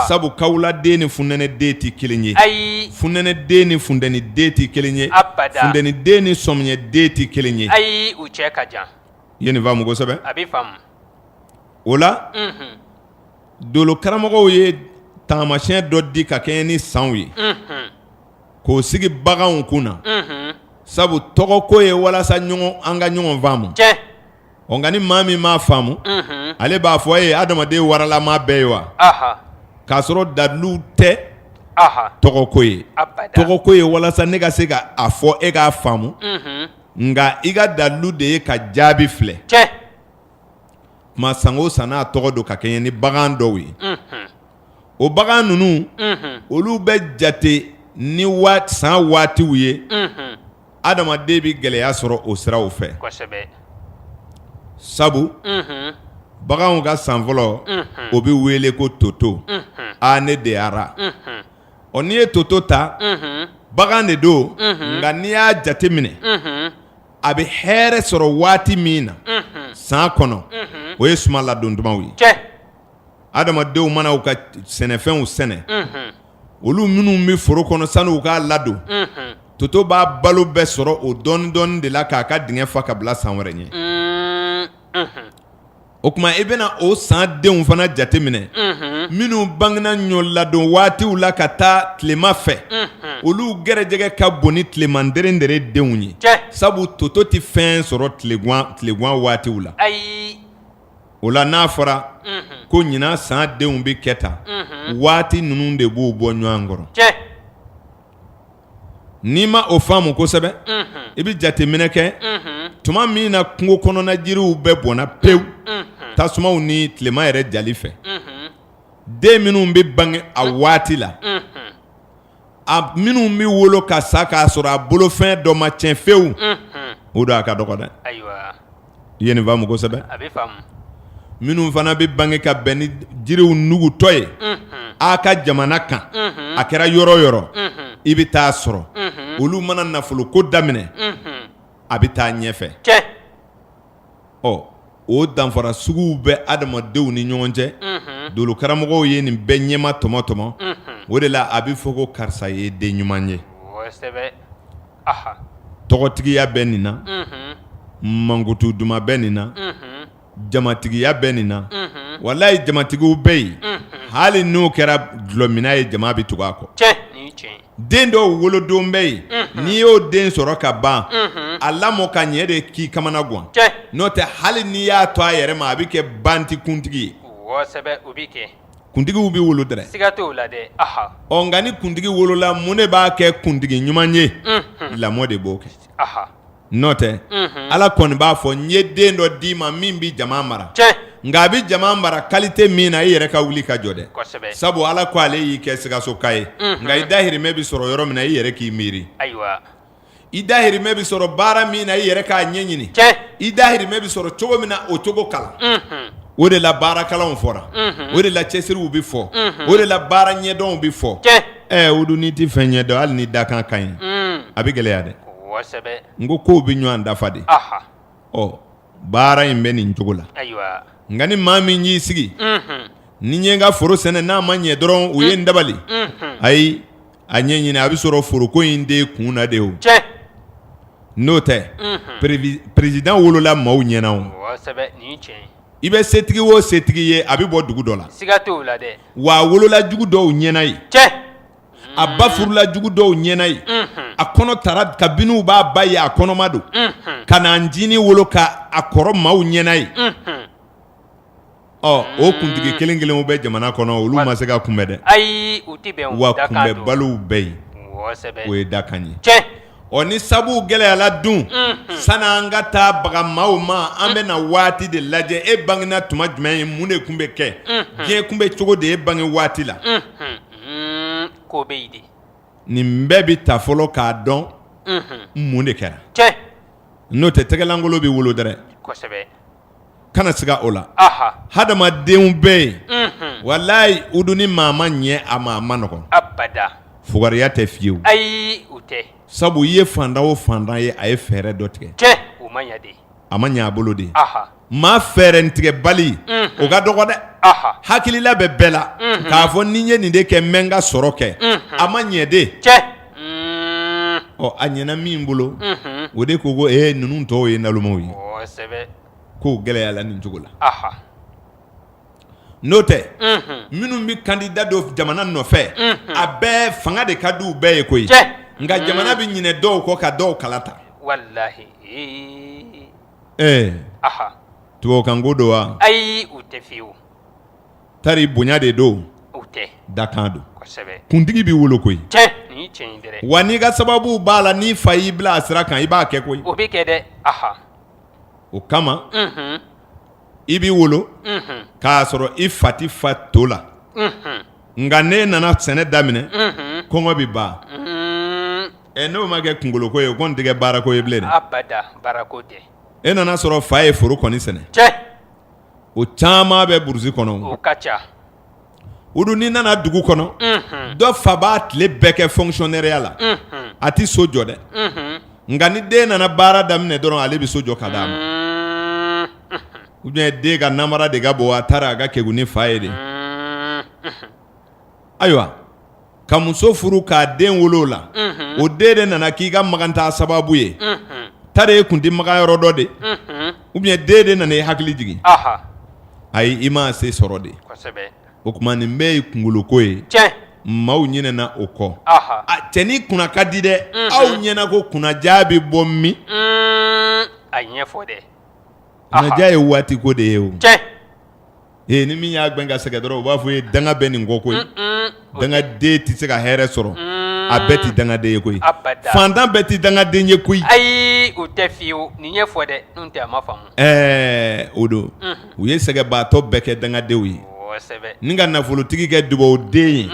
sabu kawula den ni funɛnɛ den tɛ kelen ye ayi funɛnɛ den ni funteni den tɛ kelen ye funteni den ni sɔmiɲɛ den tɛ kelen ye ayi u cɛ ka jan i ye nin faamu kosɛbɛ a bɛ faamu o la dolo karamɔgɔw ye taamasiyɛn dɔ di ka kɛɲɛ ni sanw ye k'o sigi baganw kun na sabu tɔgɔ ko ye walasa an ka ɲɔgɔn faamu ɔ nka ni maa min m'a faamu ale b'a fɔ a ye adamaden waralama bɛɛ ye wa k'a sɔrɔ dalilu tɛ tɔgɔ ko ye tɔgɔ ko ye walasa ne ka se ka a fɔ e k'a faamu nka i ka dalilu de ye ka jaabi filɛ tuma san o san n'a tɔgɔ don ka kɛɲɛ ni bagan dɔw ye, unhun, o bagan ninnu, unhun, olu bɛ jate ni san waatiw ye, unhun, adamaden bɛ gɛlɛya sɔrɔ o siraw fɛ, kosɛbɛ, sabu, unhun, baganw ka san fɔlɔ, unhun, o bɛ wele ko toto, unhun, aa ne deyara, unhun, ɔ n'i ye toto ta, unhun, bagan de don, unhun, nka n'i y'a jateminɛ, unhun. a bɛ hɛrɛ sɔrɔ waati min na san kɔnɔ o ye suma ladon tumaw ye cɛ adamadenw mana u ka sɛnɛfɛnw sɛnɛ olu minnu bɛ foro kɔnɔ sani u k'a ladon toto b'a balo bɛɛ sɔrɔ o dɔɔni dɔɔni de la k'a ka dingɛ fa ka bila san wɛrɛ ɲɛ O tuma i bɛna o san denw fana jateminɛ minnu bangena ɲɔ ladon waatiw la ka taa tilema fɛ olu garijɛgɛ ka bon ni tileman derendere denw ye sabu toto tɛ fɛn sɔrɔ tilegan waatiw la o la n'a fɔra ko ɲinan san denw bɛ kɛ tan waati ninnu de b'u bɔ ɲɔgɔn kɔrɔ N'i ma o faamu kosɛbɛ i bɛ jateminɛ kɛ tuma min na kungo kɔnɔna jiriw bɛɛ bɔnna pewu tasumaw ni tilema yɛrɛ jali fɛ den minnu bɛ bange a waati la a minnu bɛ wolo ka sa k'a sɔrɔ a bolofɛn dɔ ma tiɲɛ fewu o don a ka dɔgɔ dɛ I ye nin faamu kosɛbɛ minnu fana bɛ bange ka bɛn ni jiriw nugutɔ ye a ka jamana kan a kɛra yɔrɔ yɔrɔ i bɛ taa sɔrɔ olu mana nafolo ko daminɛ a bɛ taa ɲɛfɛ ɔ o danfara suguw bɛ adamadenw ni ɲɔgɔn cɛ dolo karamɔgɔw ye nin bɛɛ ɲɛma tɔmɔtɔmɔ o de la a bɛ fɔ ko karisa ye den ɲuman ye tɔgɔtigiya bɛ nin na mankutu duman bɛ nin na jamatigiya bɛ nin na walayi jamatigiw bɛ yen hali n'o kɛra dulɔmina ye jama bɛ tugu a kɔ den dɔw wolodon bɛ yen n'i y'o den sɔrɔ ka ban a lamɔ ka ɲɛ de k'i kamana gan n'o tɛ hali n'i y'a to a yɛrɛ ma a bɛ kɛ banti kuntigi ye kuntigiw bɛ wolo dɛrɛ siga t'o la dɛ ɔ nka ni kuntigi wolola mun de b'a kɛ kuntigi ɲuman ye lamɔ de b'o kɛ n'o tɛ ala kɔni b'a fɔ n ye den dɔ d'i ma min bɛ jama mara nka a bɛ jama mara kalite min na i yɛrɛ ka wuli ka jɔ dɛ sabu ala ko ale y'i kɛ sikasoka ye nka i dahirimɛ bɛ sɔrɔ yɔrɔ min na i yɛrɛ k'i miiri i dahirimɛ bɛ sɔrɔ baara min na i yɛrɛ k'a ɲɛɲini i dahirimɛ bɛ sɔrɔ cogo min na o cogo kalan o de la baarakalanw fɔra o de la cɛsiriw bɛ fɔ o de la baara ɲɛdɔnw bɛ fɔ ɛ o dun n'i tɛ fɛn ɲɛ dɔn hali ni dakan ka ɲi a bɛ gɛlɛya dɛ n ko kow bɛ ɲɔgɔn dafa de ɔ baara in bɛ nin cogo la nka ni maa min y'i sigi ni ɲɛ ka foro sɛnɛ n'a ma ɲɛ dɔrɔn u ye n dabali ayi a ɲɛɲini a bɛ sɔrɔ foroko in de kun na de o n'o tɛ perezidan wolola maaw ɲɛna o i bɛ setigi o setigi ye a bɛ bɔ dugu dɔ la wa a wolola jugu dɔw ɲɛna ye a ba furula jugu dɔw ɲɛna ye a kɔnɔ tara kabini u b'a ba ye a kɔnɔma don ka n'a ncinin wolo k'a kɔrɔ maaw ɲɛna ye ɔ o kuntigi kelen kelenw bɛ jamana kɔnɔ olu ma se ka kunbɛn dɛ ayi wa kunbɛnbaliw bɛ yen o ye dakan ye ɔ ni sabu gɛlɛyala dun san an ka taa bagan maaw ma an bɛ na waati de lajɛ e bangena tuma jumɛn ye mun de tun bɛ kɛ diɲɛ tun bɛ cogo di e bange waati la ko bɛ yen nin bɛɛ bɛ taa fɔlɔ k'a dɔn mun de kɛra n'o tɛ tɛgɛlankolon bɛ wolo dɛrɛ kana siga o la hadamadenw bɛ yen walayi u dun ni maa ma ɲɛ a ma ma nɔgɔ fugariya tɛ fiyewu ayi sabu i ye fantan o fantan ye a ye fɛɛrɛ dɔ tigɛ a ma ɲɛ a bolo de Maa fɛɛrɛtigɛbali o ka dɔgɔ dɛ hakilila bɛ bɛɛ la k'a fɔ ni n ye nin de kɛ n bɛ n ka sɔrɔ kɛ a ma ɲɛ de ɔ a ɲɛna min bolo o de ko ko e ninnu tɔw ye nalomaw ye k'o gɛlɛyala nin cogo la n'o tɛ minnu bɛ candidat don jamana nɔfɛ a bɛɛ fanga de ka di u bɛɛ ye koyi nka jamana bɛ ɲinɛ dɔw kɔ ka dɔw kalata Ɛɛ tubabukanko don wa ayi o tɛ fiyewu tari bonya de don o tɛ dakan don kuntigi bɛ wolo koyi wa n'i ka sababu b'a la n'i fa y'i bila a sira kan i b'a kɛ koyi o bɛ kɛ dɛ o kama i b'i wolo k'a sɔrɔ i fa t'i fa to la nka n'e nana sɛnɛ daminɛ kɔngɔ bɛ ban Ɛ n'o ma kɛ kunkoloko ye o kɔni tɛ kɛ baarako ye bilen dɛ, abada baarako tɛ, e nan'a sɔrɔ fa ye foro kɔni sɛnɛ, tiɲɛ, o caman bɛ brousse kɔnɔ, o ka ca, o dun n'i nana dugu kɔnɔ, unhun, dɔ fa b'a tile bɛɛ kɛ fonctionnaireya la, unhun, a tɛ so jɔ dɛ, unhun, nka ni den nana baara daminɛ dɔrɔn ale bɛ so jɔ ka d'a ma, un, unhun, ou bien den ka namara de ka bon a taara a ka kegun ni fa ye de, un, unhun, ayiwa ka muso furu k'a den wolo la o den de nana k'i ka maganta sababu ye tari e kun tɛ maga yɔrɔ dɔ de ou bien den de nana e hakili jigin ayi i ma se sɔrɔ de kosɛbɛ o tuma nin bɛɛ ye kunkoloko ye tiɲɛ maaw ɲinɛna o kɔ cɛ n'i kunna ka di dɛ aw ɲɛ na ko kunnaja bɛ bɔ min a ɲɛfɔ dɛ kunnaja ye waatiko de ye o ee ni min y'a gɛn ka sɛgɛ dɔrɔn u b'a fɔ ye danga bɛ nin kɔ koyi dangaden tɛ se ka hɛrɛ sɔrɔ a bɛɛ tɛ dangaden ye koyi fantan bɛɛ tɛ dangaden ye koyi ayi o tɛ fiyewu nin ɲɛfɔ dɛ tɛ ma ɛɛ o don u ye sɛgɛbaatɔ bɛɛ kɛ dangadenw ye ni ka nafolotigi kɛ dugawuden ye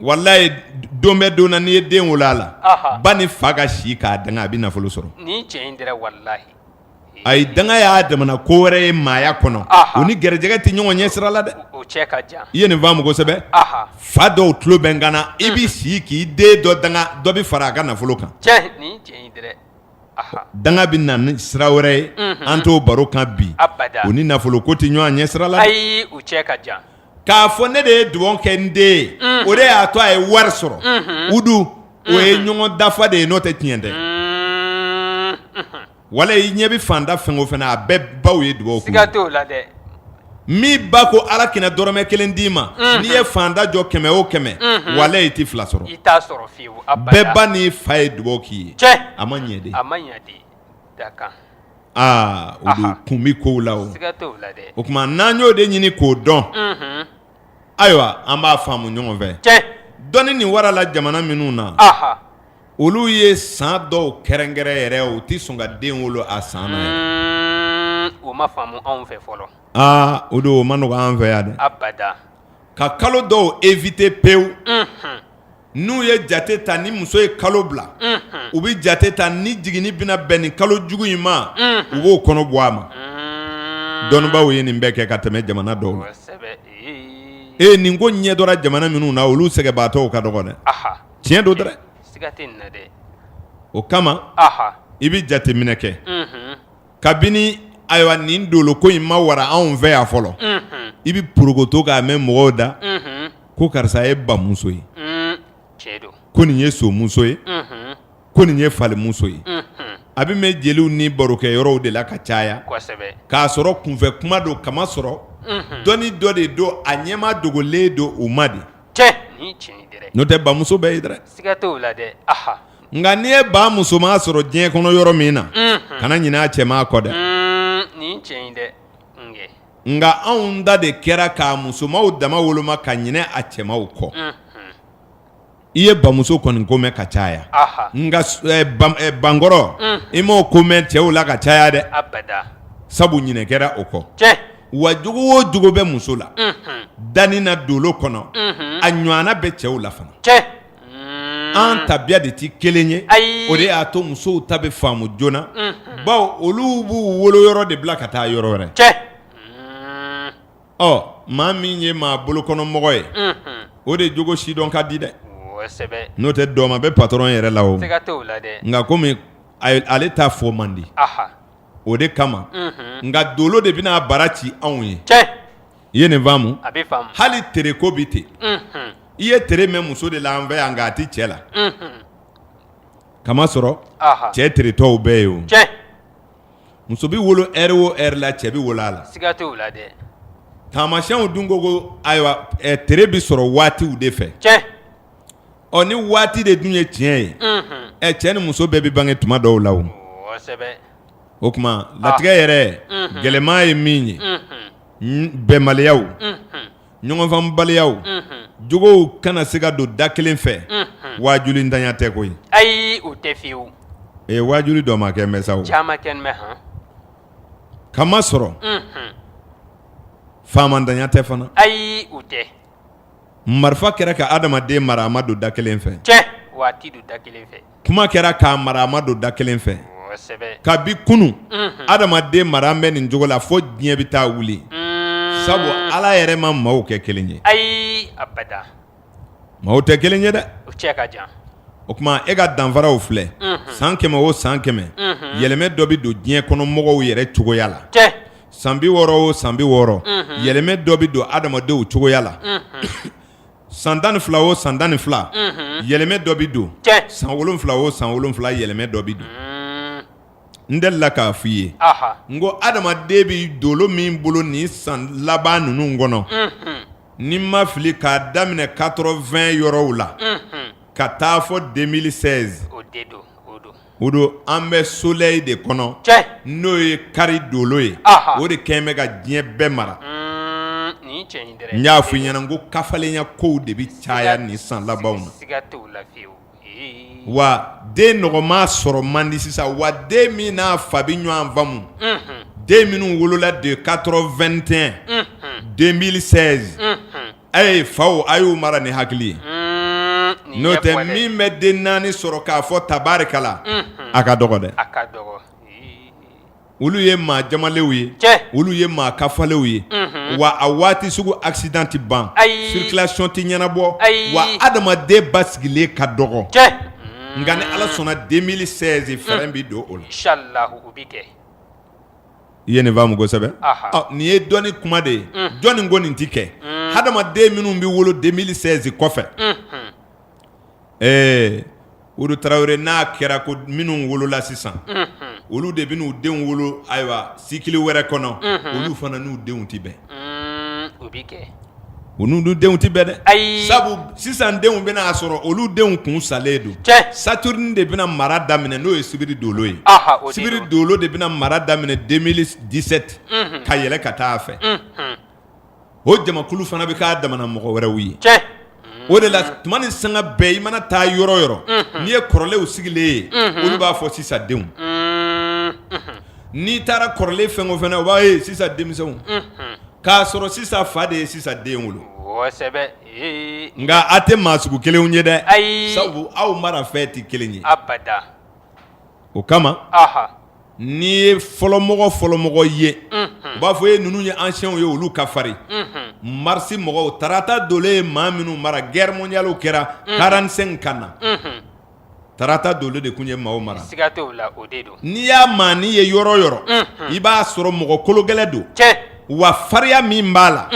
walayi don bɛ don na n'i ye den wolo a la ba ni fa ka si k'a danga a bɛ nafolo sɔrɔ Ayi danga y'a damana ko wɛrɛ ye maaya kɔnɔ o ni garijɛgɛ tɛ ɲɔgɔn ɲɛ sira la dɛ i ye nin faamu kosɛbɛ fa dɔw tulo bɛ n kan na i bɛ si k'i den dɔ danga dɔ bɛ fara a ka nafolo kan danga bɛ na ni sira wɛrɛ ye an t'o baro kan bi o ni nafolo ko tɛ ɲɔgɔn ɲɛ sira la k'a fɔ ne de ye dugawu kɛ n den ye o de y'a to a ye wari sɔrɔ u dun o ye ɲɔgɔn dafa de ye n'o tɛ tiɲɛ tɛ walayi i ɲɛ bɛ faantan fɛn o fɛn na a bɛɛ baw ye dugawu kɛ min ba ko ala kana dɔrɔmɛ kelen d'i ma n'i ye faantan jɔ kɛmɛ o kɛmɛ wala i tɛ fila sɔrɔ bɛɛ ba n'i fa ye dugawu k'i ye a ma ɲɛ aa o don kun bɛ kow la o o tuma n'an y'o de ɲini k'o dɔn ayiwa an b'a faamu ɲɔgɔn fɛ dɔnni nin warala jamana minnu na olu ye san dɔw kɛrɛnkɛrɛn yɛrɛ u tɛ sɔn ka den wolo a san na yɛrɛ o ma faamu anw fɛ fɔlɔ aa o don o man nɔgɔ an fɛ yan dɛ ka kalo dɔw evite pewu n'u ye jate ta ni muso ye kalo bila u bɛ jate ta ni jiginni bɛna bɛn nin kalo jugu in ma u b'o kɔnɔ bɔ a ma dɔnnibaw ye nin bɛɛ kɛ ka tɛmɛ jamana dɔw la ee nin ko ɲɛdɔra jamana minnu na olu sɛgɛnbaatɔw ka dɔgɔ dɛ tiɲɛ don dɛ o kama i bɛ jateminɛ kɛ kabini ayiwa nin dolo ko in ma wara anw fɛ yan fɔlɔ i bɛ porokoto k'a mɛn mɔgɔw da ko karisa ye bamuso ye ko nin ye somuso ye ko nin ye falimuso ye a bɛ mɛn jeliw ni barokɛyɔrɔw de la ka caya k'a sɔrɔ kunfɛ kuma don k'a masɔrɔ dɔnni dɔ de don a ɲɛma dogolen don u ma de n'o tɛ bamuso bɛ yen dɛ Nka n'i ye ba musoman sɔrɔ diɲɛ kɔnɔ yɔrɔ min na kana ɲinɛ a cɛman kɔ dɛ nka anw da de kɛra k'a musomanw dama woloma ka ɲinɛ a cɛmanw kɔ i ye bamuso kɔni ko mɛn ka caya nka bakɔrɔ i m'o ko mɛn cɛw la ka caya dɛ sabu ɲinɛ kɛra o kɔ wa jogo o jogo bɛ muso la danni na dolo kɔnɔ a ɲɔgɔnna bɛ cɛw la an tabiya de tɛ kelen ye o de y'a to musow ta bɛ faamu joona bawo olu b'u woloyɔrɔ de bila ka taa yɔrɔ wɛrɛ cɛ ɔ maa min ye maa bolokɔnɔmɔgɔ ye o de jogo sidɔn ka di dɛ n'o tɛ dɔ ma bɛ patɔrɔn yɛrɛ la o nka kɔmi ale ta fɔ man di o de kama nka dolo de bɛna bara ci anw ye I ye nin faamu hali tere ko bɛ ten i ye tere mɛn muso de la an fɛ yan nka a tɛ cɛ la k'a masɔrɔ cɛ teretɔw bɛ yen o muso bɛ wolo ɛri o ɛri la cɛ bɛ wolo a la taamasyɛnw dun ko ko ayiwa tere bɛ sɔrɔ waatiw de fɛ ɔ ni waati de dun ye tiɲɛ ye ɛ cɛ ni muso bɛɛ bɛ bange tuma dɔw la o o tuma latigɛ yɛrɛ gɛlɛman ye min ye bɛnbaliyaw ɲɔgɔnfaamubaliyaw jogow kana se ka don da kelen fɛ waajulintanya tɛ koyi ayi o tɛ fewu waajuli dɔgɔman kɛlen bɛ sa caman kɛlen bɛ k'a masɔrɔ faamantanya tɛ fana ayi o tɛ marifa kɛra ka adamaden mara a ma don da kelen fɛ cɛ waati don da kelen fɛ kuma kɛra k'a mara a ma don da kelen fɛ kabi kunun adamaden mara an bɛ nin cogo la fo diɲɛ bɛ taa wuli sabu ala yɛrɛ ma maaw kɛ kelen ye ayi maaw tɛ kelen ye dɛ o tuma e ka danfaraw filɛ san kɛmɛ o san kɛmɛ yɛlɛmɛ dɔ bɛ don diɲɛ kɔnɔ mɔgɔw yɛrɛ cogoya la san bi wɔɔrɔ o san bi wɔɔrɔ yɛlɛmɛ dɔ bɛ don adamadenw cogoya la san tan ni fila o san tan ni fila yɛlɛmɛ dɔ bɛ don san wolonwula o san wolonwula yɛlɛmɛ dɔ bɛ don n delila k'a fɔ i ye n ko adamaden bɛ dolo min bolo nin san laban ninnu kɔnɔ ni n ma fili k'a daminɛ 80 yɔrɔw la ka taa fo 2016 O don an bɛ soleil de kɔnɔ n'o ye kari dolo ye o de kɛlen bɛ ka diɲɛ bɛɛ mara n y'a fɔ i ɲɛna n ko kafalenya kow de bɛ caya nin san labanw na wa den nɔgɔma sɔrɔ man di sisan wa den min n'a fa bɛ ɲɔgɔn faamu den minnu wolola de 81 2016 A ye faw a y'u mara ni hakili ye n'o tɛ min bɛ den naani sɔrɔ k'a fɔ tabarikala a ka dɔgɔ dɛ olu ye maa jamalenw ye olu ye maa kafalenw ye wa a waati sugu accident tɛ ban circulation tɛ ɲɛnabɔ wa adamaden basigilen ka dɔgɔ nka ni ala sɔnna 2016 fɛrɛn bɛ don o la I ye nin faamu kosɛbɛ nin ye dɔnni kuma de ye jɔnni ko nin tɛ kɛ hadamaden minnu bɛ wolo 2016 kɔfɛ ɛɛ Udu Tarawele n'a kɛra ko minnu wolola sisan olu de bɛn'u denw wolo ayiwa cycle wɛrɛ kɔnɔ olu fana n'u denw tɛ bɛn o bɛ kɛ U n'u denw tɛ bɛn dɛ, ayi, sabu sisan denw bɛn'a sɔrɔ olu denw kun salen don, tiɲɛ, Saturne de bɛna mara daminɛ n'o ye sibiri dolo ye, aha, o de don, sibiri dolo de bɛna mara daminɛ 2017 unhun, ka yɛlɛ ka taa a fɛ, unhun, o jamakulu fana bɛ k'a damana mɔgɔ wɛrɛw ye, tiɲɛ, o de la tuma ni sanga bɛɛ i mana taa yɔrɔ o yɔrɔ, unhun, n'i ye kɔrɔlenw sigilen ye, unhun, olu b'a fɔ sisan denw, unhun. N'i taara kɔrɔlen fɛn o fɛn na o b'a ye sisan denmisɛnw k'a sɔrɔ sisan fa de ye sisan den wolo nka a tɛ maa sugu kelenw ye dɛ ayi sabu aw mara fɛn tɛ kelen ye o kama n'i ye fɔlɔmɔgɔ fɔlɔmɔgɔ ye u b'a fɔ e ninnu ye anciens ye olu ka farin marisi mɔgɔw tarata dolo de ye maa minnu mara guerre mondiale kɛra quarante-cinq ka na Tarata dolo de tun ye maaw mara n'i y'a maa nin ye yɔrɔ yɔrɔ i b'a sɔrɔ mɔgɔ kologɛlɛn don wa fariya min b'a la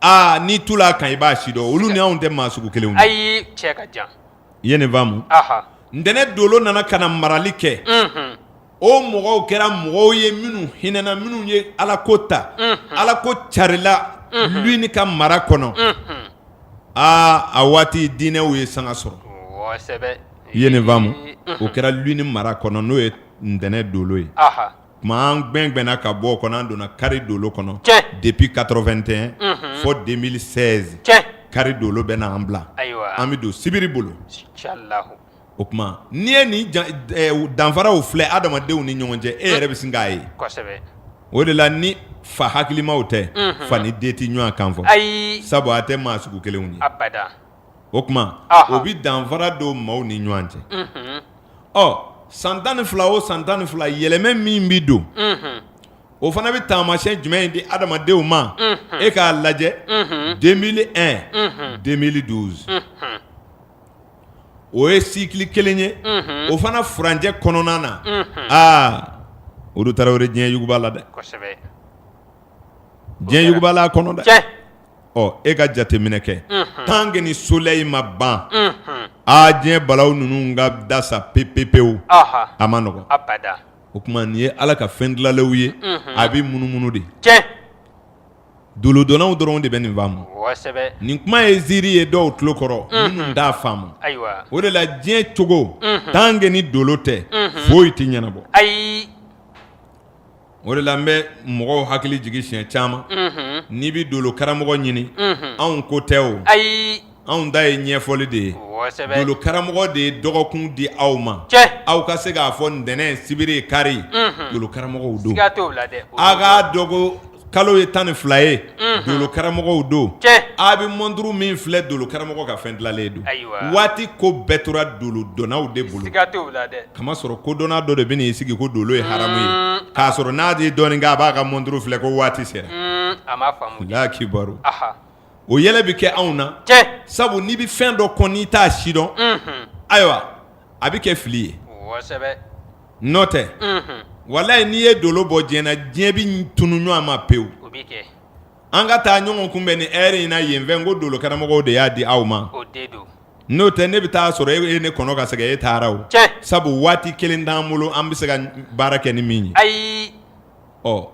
aa n'i tula a kan i b'a si dɔn olu ni anw tɛ maa sugu kelenw ye i ye nin faamu ntɛnɛn dolo nana ka na marali kɛ o mɔgɔw kɛra mɔgɔw ye minnu hinɛna minnu ye ala ko ta ala ko carila lune ka mara kɔnɔ aa a waati diinɛw ye sanga sɔrɔ i ye nin faamu o kɛra lune mara kɔnɔ n'o ye ntɛnɛn dolo ye tuma an gwɛngwɛnna ka bɔ o kɔnɔ an donna kari dolo kɔnɔ depuis quatre-vingt-un fo deux mille seize kari dolo bɛ na an bila an bɛ don sibiri bolo O tuma n'i ye nin danfaraw filɛ adamadenw ni ɲɔgɔn cɛ e yɛrɛ bɛ sin k'a ye o de la ni fa hakilimaw tɛ fa ni den tɛ ɲɔgɔn kan fɔ ayi sabu a tɛ maa sugu kelenw ye o tuma o bɛ danfara don maaw ni ɲɔgɔn cɛ ɔ san tan ni fila o san tan ni fila yɛlɛmɛ min bɛ don o fana bɛ taamasiyɛn jumɛn di adamadenw ma e k'a lajɛ deux mille un deux mille douze o ye sikili kelen ye o fana furancɛ kɔnɔna na aa Alu Tarawele diɲɛ yugubala dɛ diɲɛ yugubala a kɔnɔ dɛ ɔ e ka jateminɛ kɛ tant que ni solɛyi ma ban aa diɲɛ balaw ninnu ka dasa pepepewu a ma nɔgɔ o tuma nin ye ala ka fɛn dilanlenw ye a bɛ munumunu de Doolodɔnnaw dɔrɔnw de bɛ nin faamu, kosɛbɛ, nin kuma ye ziiri ye dɔw tulo kɔrɔ minnu t'a faamu, ayiwa, o de la diɲɛ cogo tant que ni dolo tɛ foyi tɛ ɲɛnabɔ, ayi, o de la n bɛ mɔgɔw hakili jigin siɲɛ caman n'i bɛ doolo karamɔgɔ ɲini anw ko tɛ o, ayi. anw ta ye ɲɛfɔli de ye, kosɛbɛ, dolo karamɔgɔ de ye dɔgɔkun di aw ma, tiɲɛ, aw ka se k'a fɔ ntɛnɛn sibiri kari, unhun, dolo karamɔgɔw don, siga t'o la dɛ, aw k'a dɔn ko kalo ye tan ni fila ye, unhun, dolo karamɔgɔw don, tiɲɛ, a bɛ mɔnturu min filɛ dolo karamɔgɔ ka fɛn dilanlen don, ayiwa, waati ko bɛɛ tora dolo dɔnnaw de bolo, siga t'o la dɛ, kamasɔrɔ kodɔnna dɔ de bɛ n'i sigi ko dolo ye haramu ye, un, k'a sɔrɔ n'a ye dɔɔnin kɛ a b'a ka mɔnturu filɛ ko waati sera, un, a ma faamu, Alahuwakibaru, anhan. o yɛlɛ bɛ kɛ anw na sabu n'i bɛ fɛn dɔ kɔn n'i t'a sidɔn ayiwa a bɛ kɛ fili ye n'o tɛ walayi n'i ye dolo bɔ diɲɛ na diɲɛ bɛ tunun ɲɔgɔn ma pewu an ka taa ɲɔgɔn kunbɛn nin heure in na yen fɛ n ko dolokaramɔgɔw de y'a di aw ma n'o tɛ ne bɛ taa sɔrɔ e ye ne kɔnɔ ka sɛgɛn e taara o sabu waati kelen t'an bolo an bɛ se ka baara kɛ ni min ye ayi ɔ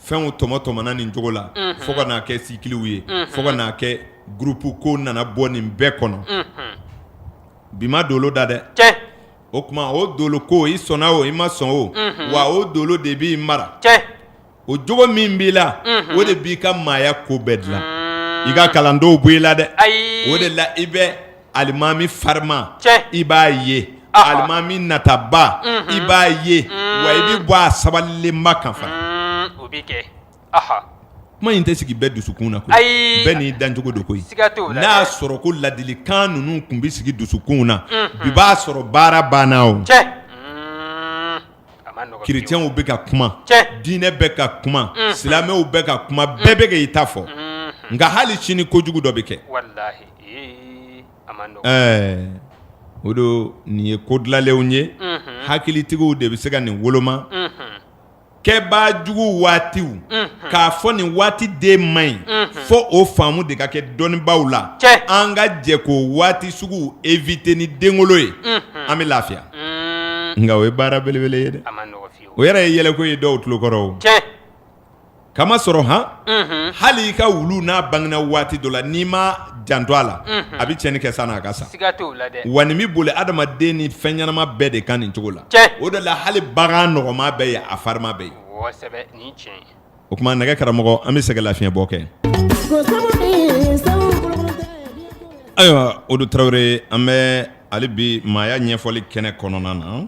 fɛnw tɔmɔ tɔmɔna nin cogo la fo ka n'a kɛ cycles ye fo ka n'a kɛ groupe ko nana bɔ nin bɛɛ kɔnɔ bi ma dolo da dɛ o tuma o dolo ko i sɔnna o i ma sɔn o wa o dolo de b'i mara o jogo min b'i la o de b'i ka maaya ko bɛɛ dilan i ka kalan t'o bɔ i la dɛ o de la i bɛ alimami farima i b'a ye alimami nataba i b'a ye wa i bɛ bɔ a sabalilenba kan fana o bɛ kɛ kuma in tɛ sigi bɛɛ dusukun na koyi bɛɛ n'i dancogo don koyi n'a y'a sɔrɔ ko ladilikan ninnu tun bɛ sigi dusukunw na bi b'a sɔrɔ baara banna o chrétiens bɛ ka kuma diinɛ bɛ ka kuma silamɛw bɛ ka kuma bɛɛ bɛ ka i ta fɔ nka hali sini kojugu dɔ bɛ kɛ o don nin ye ko dilanlenw ye hakilitigiw de bɛ se ka nin woloma kɛbaa jugu waatiw k'a fɔ nin waati den man ɲi fo o faamu de ka kɛ dɔnnibaw la an ka jɛ k'o waati suguw éviter ni denwolo ye an bɛ lafiya nka o ye baara belebele ye dɛ o yɛrɛ ye yɛlɛko ye dɔw tulo kɔrɔ K'a masɔrɔ han hali i ka wulu n'a bangena waati dɔ la n'i ma janto a la a bɛ tiɲɛni kɛ san'a ka sa wa nin bɛ boli adamaden ni fɛn ɲɛnama bɛɛ de kan nin cogo la o de la hali bagan nɔgɔman bɛ yen a farima bɛ yen o tuma ne ka karamɔgɔ an bɛ se ka lafiɲɛbɔ kɛ ayiwa o don tarawele an bɛ hali bi maaya ɲɛfɔli kɛnɛ kɔnɔna na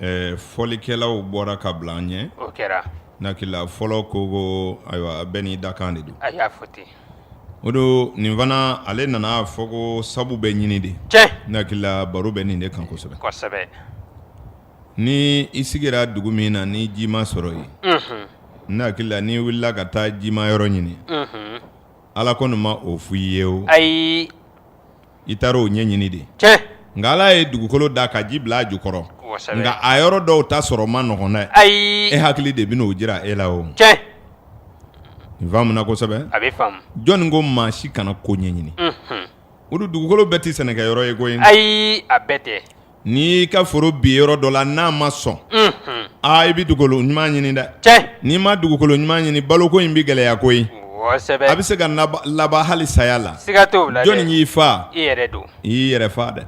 Ɛɛ fɔlikɛlaw bɔra ka bila an ɲɛ o kɛra ne hakili la fɔlɔ ko ko ayiwa bɛɛ n'i dakan de don a y'a fɔ ten o don nin fana ale nan'a fɔ ko sabu bɛ ɲini de cɛ ne hakili la baro bɛ nin de kan kosɛbɛ kosɛbɛ ni i sigira dugu min na ni ji ma sɔrɔ yen n hakili la ni i wulila ka taa jimayɔrɔ ɲini ala kɔni ma o fɔ i ye o ayi i taara o ɲɛɲini de cɛ nka ala ye dugukolo da ka ji bila a jukɔrɔ nka a yɔrɔ dɔw ta sɔrɔ man nɔgɔn dɛ ayi e hakili de bɛn'o jira e la o cɛ i faamuna kosɛbɛ a bɛ faamu jɔnni ko maa si kana ko ɲɛɲini o don dugukolo bɛɛ tɛ sɛnɛkɛyɔrɔ ye koyi ayi a bɛɛ tɛ N'i y'i ka foro bin yɔrɔ dɔ la n'a ma sɔn aa i bɛ dugukolo ɲuman ɲini dɛ n'i ma dugukolo ɲuman ɲini baloko in bɛ gɛlɛya koyi a bɛ se ka laban hali saya la jɔnni y'i faa i y'i yɛrɛ faa dɛ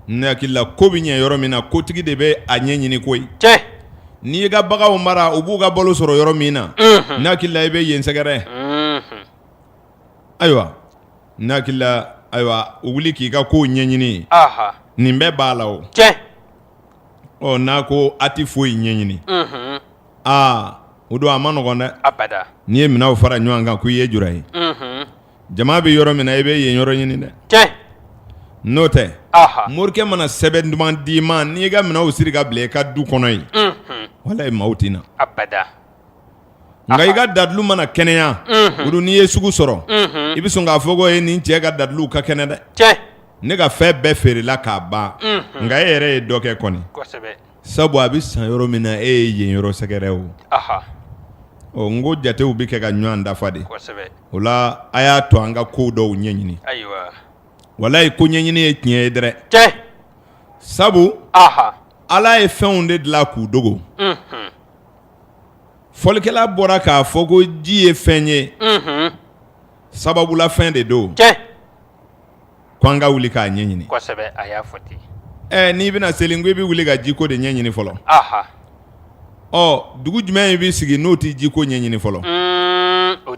ne hakili la ko bɛ ɲɛ yɔrɔ min na kotigi de bɛ a ɲɛ ɲini koyi n'i y'i ka baganw mara u b'u ka balo sɔrɔ yɔrɔ min na ne hakili la i bɛ yen sɛgɛrɛ ayiwa N hakili la ayiwa o wuli k'i ka ko ɲɛɲini nin bɛɛ b'a la o cɛ ɔ n'a ko a tɛ foyi ɲɛɲini aa o don a man nɔgɔn dɛ n'i ye minɛnw fara ɲɔgɔn kan ko i ye jura ye jama bɛ yɔrɔ min na i bɛ yen yɔrɔ ɲini dɛ cɛ n'o tɛ morikɛ mana sɛbɛn duman d'i ma n'i ka minɛnw siri ka bila i ka du kɔnɔ yen walayi maaw tɛ na nka i ka dalilu mana kɛnɛya olu n'i ye sugu sɔrɔ i bɛ sɔn k'a fɔ ko ye nin cɛ ka dalilu ka kɛnɛ dɛ ne ka fɛn bɛɛ feerela k'a ban nka e yɛrɛ ye dɔ kɛ kɔni sabu a bɛ san yɔrɔ min na e ye yen yɔrɔ sɛgɛrɛ o ɔ n ko jatew bɛ kɛ ka ɲɔgɔn dafa de o la a y'a to an ka kow dɔw ɲɛɲini walayi ko ɲɛɲini ye tiɲɛ ye dɛrɛ sabu ala ye fɛnw de dilan k'u dogo fɔlikɛla bɔra k'a fɔ ko ji ye fɛn ye sababulafɛn de don ko an ka wuli k'a ɲɛɲini n'i bɛna seli ko i bɛ wuli ka jiko de ɲɛɲini fɔlɔ ɔ dugu jumɛn in bɛ sigi n'o tɛ jiko ɲɛɲini fɔlɔ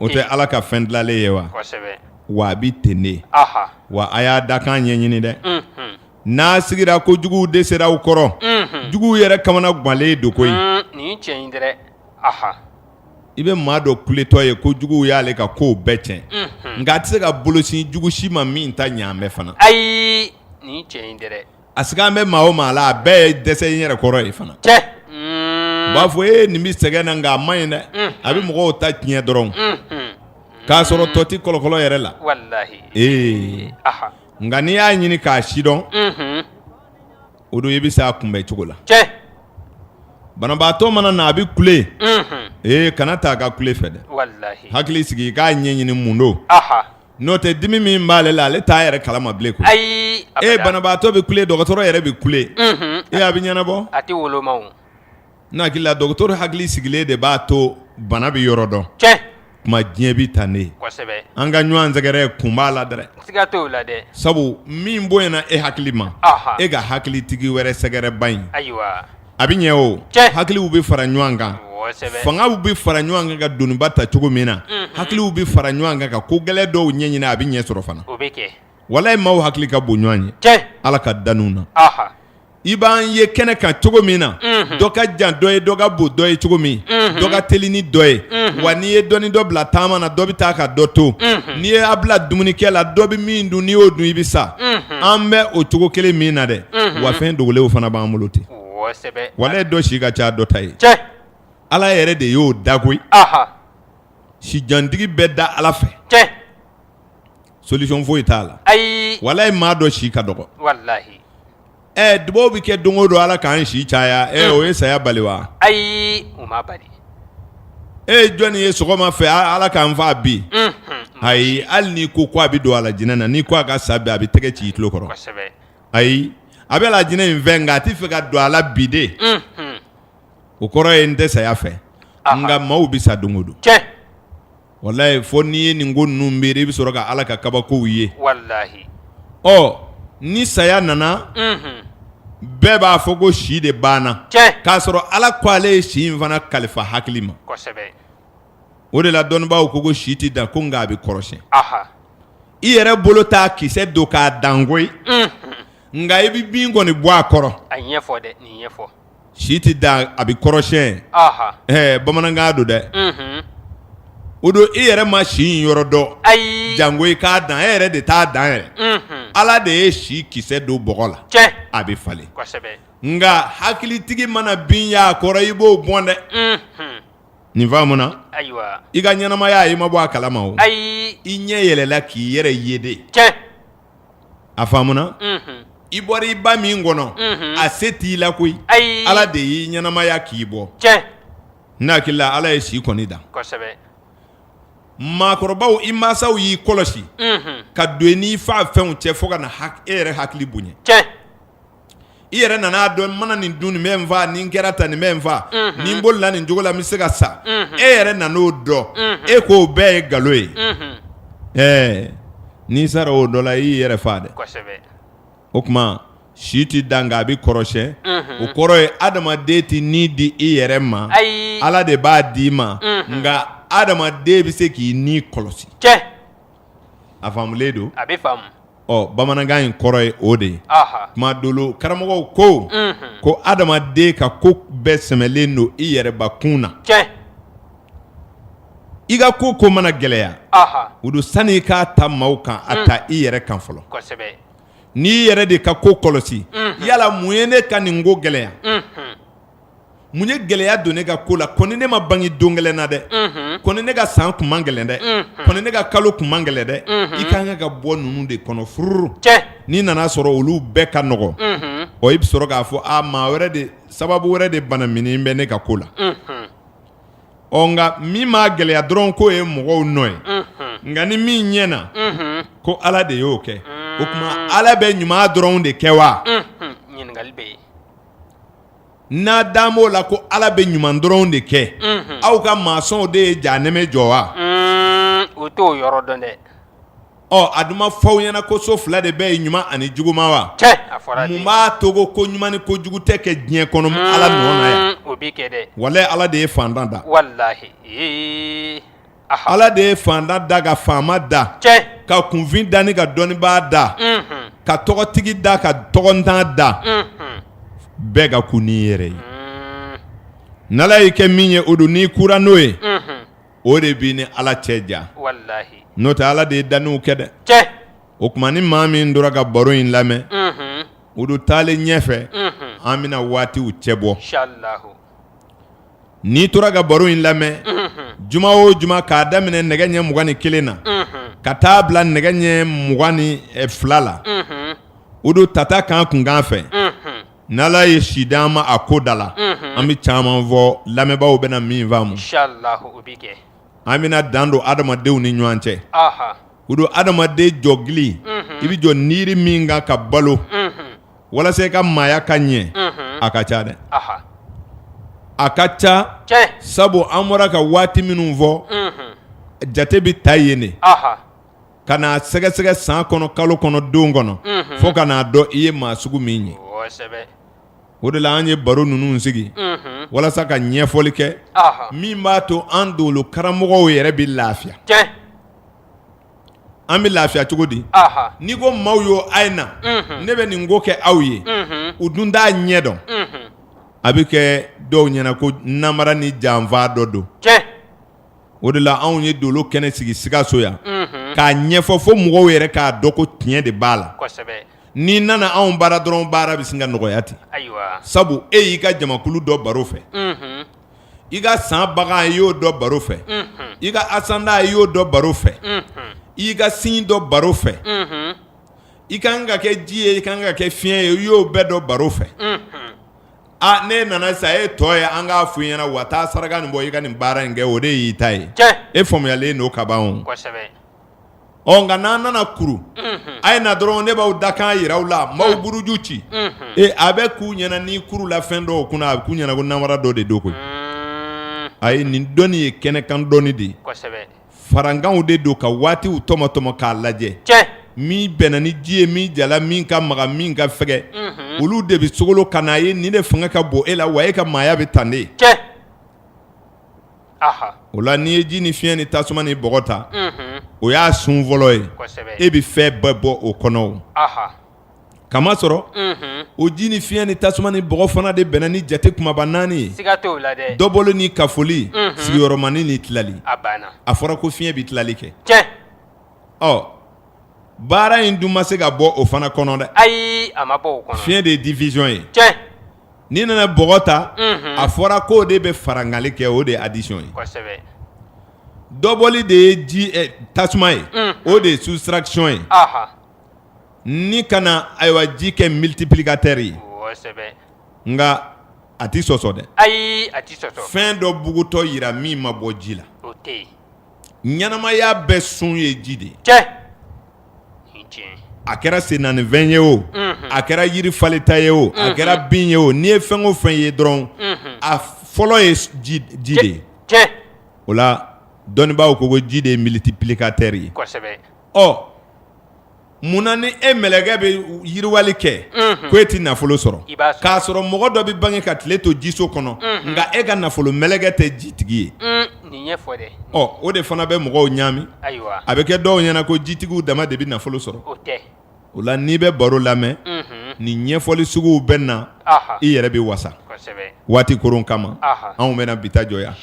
o tɛ ala ka fɛn dilalen ye wa wa a bɛ ten de wa a y'a dakan ɲɛɲini dɛ n'a sigira ko juguw de sera u kɔrɔ, unhun, juguw yɛrɛ kamana ganlen don koyi, un, nin ye tiɲɛ ye dɛrɛ, aha, i bɛ maa dɔ kuletɔ ye ko juguw y'ale ka kow bɛɛ tiɲɛ, unhun, nka a tɛ se ka bolosin jugu si ma min ta ɲɛlen bɛ fana, ayi, nin ye tiɲɛ ye dɛrɛ, a sigalen bɛ maa o maa la a bɛɛ ye dɛsɛ n yɛrɛ kɔrɔ ye fana, cɛ, un, u b'a fɔ ee nin bɛ sɛgɛn na nka a man ɲi dɛ, unhun, a bɛ mɔgɔw ta tiɲɛ dɔrɔn, unhun, k'a sɔrɔ tɔ tɛ kɔlɔkɔlɔ yɛrɛ la, walahi, ee, aha. Nka n'i y'a ɲini k'a sidɔn o don i bɛ se a kunbɛn cogo la banabaatɔ mana na a bɛ kule ee kana taa a ka kule fɛ dɛ hakili sigi i k'a ɲɛ ɲini mun don n'o tɛ dimi min b'ale la ale t'a yɛrɛ kalama bilen koyi banabaatɔ bɛ kule dɔgɔtɔrɔ yɛrɛ bɛ kule e' a bɛ ɲɛnabɔ N'a hakili la docteur hakili sigilen de b'a to bana bɛ yɔrɔ dɔn, tiɲɛ, tuma diɲɛ bɛ tan de ye, kosɛbɛ, an ka ɲɔgɔn sɛgɛrɛ kun b'a la dɛ, siga t'o la dɛ, sabu min bonyana e hakili ma, anhan, e ka hakilitigi wɛrɛ sɛgɛrɛ bani, ayiwa, a bɛ ɲɛ o, tiɲɛ, hakiliw bɛ fara ɲɔgɔn kan, kosɛbɛ, fangaw bɛ fara ɲɔgɔn kan ka doniba ta cogo min na, unhun, hakiliw bɛ fara ɲɔgɔn kan ka ko gɛlɛn dɔw ɲɛɲini a bɛ ɲɛ sɔrɔ fana, o bɛ kɛ, walayi maaw hakili ka bon ɲɔgɔn ye, tiɲɛ, Ala ka danniw na, anhan. i b'an ye kɛnɛ kan cogo min na dɔ ka jan dɔ ye dɔ ka bon dɔ ye cogo min dɔ ka teli ni dɔ ye wa n'i ye dɔ ni dɔ bila taama na dɔ bɛ taa ka dɔ to n'i ye a bila dumunikɛ la dɔ bɛ min dun n'i y'o dun i bɛ sa an bɛ o cogo kelen min na dɛ wa fɛn dogolenw fana b'an bolo ten walayi dɔ si ka ca dɔ ta ye ala yɛrɛ de y'o dan koyi sijantigi bɛ dan ala fɛ solution foyi t'a la walayi maa dɔ si ka dɔgɔ Ɛɛ dubaw bɛ kɛ don o don ala k'an si caya ɛ o ye saya bali wa ayi o ma bali e ye jɔnni ye sɔgɔma fɛ ala k'an faa bi ayi hali n'i ko ko a bɛ don alijinɛ na n'i ko a ka sa bi a bɛ tɛgɛ ci i tulo kɔrɔ ayi a b'alijinɛ in fɛ nka a tɛ fɛ ka don a la bi dɛ o kɔrɔ ye n tɛ saya fɛ nka maaw bɛ sa don o don walayi fo n'i ye nin ko ninnu miiri i bɛ sɔrɔ ka ala ka kabakow ye ɔ ni saya nana bɛɛ b'a fɔ ko si de banna k'a sɔrɔ ala ko ale ye si in fana kalifa hakili ma o de la dɔnnibaw ko ko si tɛ dan ko nka a bɛ kɔrɔsiyɛn i yɛrɛ bolo t'a kisɛ don k'a dan koyi nka i bɛ bin kɔni bɔ a kɔrɔ si tɛ dan a bɛ kɔrɔsiyɛn ɛɛ bamanankan don dɛ o don i yɛrɛ ma si in yɔrɔ dɔn ayi jango i k'a dan e yɛrɛ de t'a dan yɛrɛ ala de ye si kisɛ don bɔgɔ la a bɛ falen nka hakilitigi mana bin y'a kɔrɔ i b'o bɔn dɛ nin faamuna i ka ɲɛnamaya i ma bɔ a kalama o ayi i ɲɛ yɛlɛla k'i yɛrɛ ye de a faamuna i bɔra i ba min kɔnɔ a se t'i la koyi ala de y'i ɲɛnamaya k'i bɔ n'a hakili la ala ye si kɔni dan maakɔrɔbaw i mansaw y'i kɔlɔsi ka don i n'i faafɛnw cɛ fo ka na e yɛrɛ hakili bonya i yɛrɛ nana a dɔn n mana nin dun nin bɛ n faa nin kɛra tan nin bɛ n faa nin bolila nin cogo la n bɛ se ka sa e yɛrɛ nana o dɔn e ko o bɛɛ ye nkalon ye ɛɛ n'i sara o dɔ la i y'i yɛrɛ faa dɛ o tuma si tɛ dan nka a bɛ kɔrɔsiyɛn o kɔrɔ ye adamaden tɛ ni di i yɛrɛ ma ala de b'a di' i ma nka adamaden bɛ se k'i ni kɔlɔsi A faamulen don a bɛ faamu ɔ bamanankan in kɔrɔ ye o de ye tuma dolo karamɔgɔw ko ko adamaden ka ko bɛɛ sɛmɛlen don i yɛrɛbakun na i ka ko ko mana gɛlɛya o don sani i k'a ta maaw kan a ta i yɛrɛ kan fɔlɔ n'i yɛrɛ de ka ko kɔlɔsi yala mun ye ne ka nin ko gɛlɛya Mun ye gɛlɛya don ne ka ko la kɔni ne ma bange don gɛlɛn na dɛ kɔni ne ka san kun man gɛlɛn dɛ kɔni ne ka kalo kun man gɛlɛn dɛ i ka kan ka ka bɔ ninnu de kɔnɔ fururu n'i nana sɔrɔ olu bɛɛ ka nɔgɔ o i bɛ sɔrɔ k'a fɔ a maa wɛrɛ de sababu wɛrɛ de banaminin bɛ ne ka ko la ɔ nka min ma gɛlɛya dɔrɔn k'o ye mɔgɔw nɔ ye nka ni min ɲɛna ko ala de y'o kɛ o tuma ala bɛ ɲuman dɔrɔn de kɛ wa n'a dan b'o la ko Ala bɛ ɲuman dɔrɔn de kɛ, unhun, aw ka masɔnw de ye jahanɛmɛ jɔ wa? Un, u t'o yɔrɔ dɔn dɛ. Ɔ a dun ma fɔ aw ɲɛna ko so fila de bɛ yen ɲuman ani juguman wa? Cɛ! A fɔra ten. Mun b'a to ko ko ɲuman ni ko jugu tɛ kɛ diɲɛ kɔnɔ Ala nɔ na yan? Un, o bɛ kɛ dɛ. Walahi Ala de ye fantan da. Walahi, ee. Ala de ye fantan da ka faama da ka kunfin da ni ka dɔnnibaa da ka tɔgɔtigi da ka tɔgɔntan da bɛɛ ka kun n'i yɛrɛ ye ni ala y'i kɛ min ye o don n'i kura n'o ye o de b'i ni ala cɛ ja walahi n'o tɛ ala de ye danniw kɛ dɛ o tuma ni maa min tora ka baro in lamɛn o don taalen ɲɛfɛ an bɛna waatiw cɛ bɔ n'i tora ka baro in lamɛn juma o juma k'a daminɛ nɛgɛ ɲɛ mugan ni kelen na ka taa bila nɛgɛ ɲɛ mugan ni fila la o don tata kan kunkan fɛ ni ala ye si di an ma a ko da la an bɛ caman fɔ lamɛnbaa bɛna na min faamu an bɛna dan don adamadenw ni ɲɔgɔn cɛ o don adamaden jɔgili i bɛ jɔ niiri min kan ka balo walasa i ka maaya ka ɲɛ a ka ca dɛ a ka ca sabu an bɔra ka waati minnu fɔ jate bɛ ta yen de ka n'a sɛgɛsɛgɛ san kɔnɔ kalo kɔnɔ don kɔnɔ fo ka n'a dɔn i ye maa sugu min ye o de la an ye baro ninnu sigi walasa ka ɲɛfɔli kɛ min b'a to an dolo karamɔgɔw yɛrɛ bɛ lafiya An bɛ lafiya cogo di n'i ko maaw ye a ye na ne bɛ nin ko kɛ aw ye u dun t'a ɲɛ dɔn a bɛ kɛ dɔw ɲɛna ko nanbara ni janfa dɔ don o de la anw ye dolo kɛnɛ sigi sikaso yan k'a ɲɛfɔ fo mɔgɔw yɛrɛ k'a dɔn ko tiɲɛ de b'a la n'i nana anw bara dɔrɔn baara bɛ sin ka nɔgɔya ten sabu e y'i ka jamakulu dɔn baro fɛ i ka san bagan i y'o dɔn baro fɛ i ka asanda i y'o dɔn baro fɛ i ka sin dɔn baro fɛ i ka kan ka kɛ ji ye i ka kan ka kɛ fiɲɛ ye i y'o bɛɛ dɔn baro fɛ aa ne nana sa e tɔ ye an k'a fɔ i ɲɛna wa taa saraka nin bɔ i ka nin baara in kɛ o de y'i ta ye e faamuyalen don kaban Ɔ nka n'an nana kuru a ye na dɔrɔn ne b'aw dakan jira aw la maaw buruju ci ee a bɛ k'u ɲɛna ni kuru la fɛn dɔw kunna a bɛ k'u ɲɛna ko namara dɔ de don koyi ayi nin dɔnni ye kɛnɛkan dɔnni de ye farankanw de don ka waatiw tɔmɔtɔmɔ k'a lajɛ min bɛnna ni ji ye min jala min ka magan min ka fɛgɛ olu de bɛ sogolo ka n'a ye nin de fanga ka bon e la wa e ka maaya bɛ tan de o la n'i ye ji ni fiɲɛ ni tasuma ni bɔgɔ ta o y'a sun fɔlɔ ye e bɛ fɛn bɛɛ bɔ o kɔnɔ k'a masɔrɔ o ji ni fiɲɛ ni tasuma ni bɔgɔ fana de bɛnna ni jate kumaba naani ye dɔbɔli ni kafoli sigiyɔrɔmani ni tilali a fɔra ko fiɲɛ bɛ tilali kɛ ɔ baara in dun ma se ka bɔ o fana kɔnɔ dɛ ayi fiɲɛ de ye division ye N'i nana bɔgɔ ta a fɔra k'o de bɛ farangali kɛ o de ye addition ye dɔbɔli de ye ji tasuma ye o de ye soustraction ye ni kana ayiwa ji kɛ multiplicateur ye nka a tɛ sɔsɔ dɛ ayi a fɛn dɔ bugutɔ jira min ma bɔ ji la ɲɛnamaya bɛɛ sun ye ji de ye a kɛra sennaanifɛn ye o a kɛra yiri falenta ye o a kɛra bin ye o n'i ye fɛn o fɛn ye dɔrɔn a fɔlɔ ye ji de ye o la dɔnnibaaw ko ko ji de ye multiplicateur ye ɔ munna ni e mɛlɛkɛ bɛ yiriwali kɛ ko e tɛ nafolo sɔrɔ k'a sɔrɔ mɔgɔ dɔ bɛ bange ka tile to jiso kɔnɔ nka e ka nafolo mɛlɛkɛ tɛ jitigi ye ɔ o de fana bɛ mɔgɔw ɲaami a bɛ kɛ dɔw ɲɛna ko jitigiw dama de bɛ nafolo sɔrɔ o la n'i bɛ baro lamɛn ni ɲɛfɔli suguw bɛ na i yɛrɛ bɛ wasa waati koron kama anw bɛna bi ta jɔ yan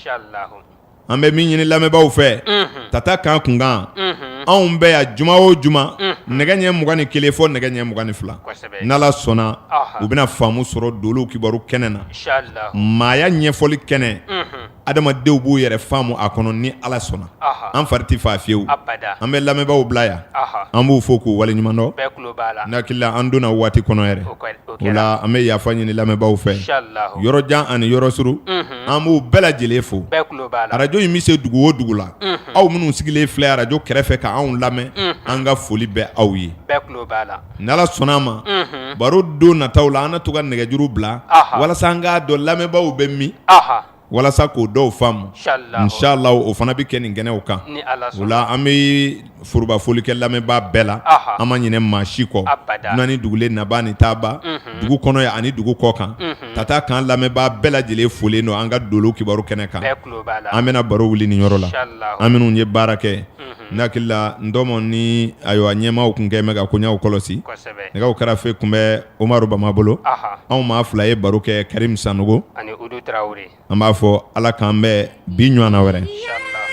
an bɛ min ɲini lamɛnbaaw fɛ ka taa kan kunkan anw bɛ yan juma o juma nɛgɛ ɲɛ mugan ni kelen fɔ nɛgɛ ɲɛ mugan ni fila n'ala sɔnna u bɛna faamu sɔrɔ dolo kibaru kɛnɛ na maaya ɲɛfɔli kɛnɛ adamadenw b'u yɛrɛ faamu a kɔnɔ ni ala sɔnna an fari tɛ faa fiyewu an bɛ lamɛnbaaw bila yan an b'u fo k'u waleɲuman dɔn ne hakili la an donna waati kɔnɔ yɛrɛ o la an bɛ yafa ɲini lamɛnbaaw fɛ yɔrɔ jan ani yɔrɔ suru an b'u bɛɛ lajɛlen fo arajo in bɛ se dugu o dugu la aw minnu sigilen filɛ arajo kɛrɛfɛ k'an lamɛn an ka foli bɛ aw ye Ni Ala sɔnna a ma, unhun, baro don nataw la an na to ka nɛgɛjuru bila, anhan, walasa an k'a dɔn lamɛnbaaw bɛ min, anhan, walasa k'o dɔw faamu, insalawu, insalawu o fana bɛ kɛ nin kɛnɛw kan, ni Ala sɔnna, o la an bɛ forobafoli kɛ lamɛnbaa bɛɛ la, anhan, an ma ɲinɛ maa si kɔ, abada, dunan ni dugulen, nabaa ni taabaa, unhun, dugu kɔnɔ yan ani dugu kɔ kan, unhun, ka taa k'an lamɛnbaa bɛɛ lajɛlen folen don an ka Dolo kibaru kɛnɛ kan, bɛɛ tulo b'a la, an bɛna baro wuli nin yɔrɔ la, insalawu, an minnu ye baara kɛ ne hakili la n dɔma ni ayiwa ɲɛmaaw tun kɛ ka koɲɛw kɔlɔsi nɛgɛw karafe tun bɛ omari bama bolo anw maa fila ye baro kɛ karimu sanɔgɔ an b'a fɔ ala k'an bɛn bi ɲɔgɔnna wɛrɛ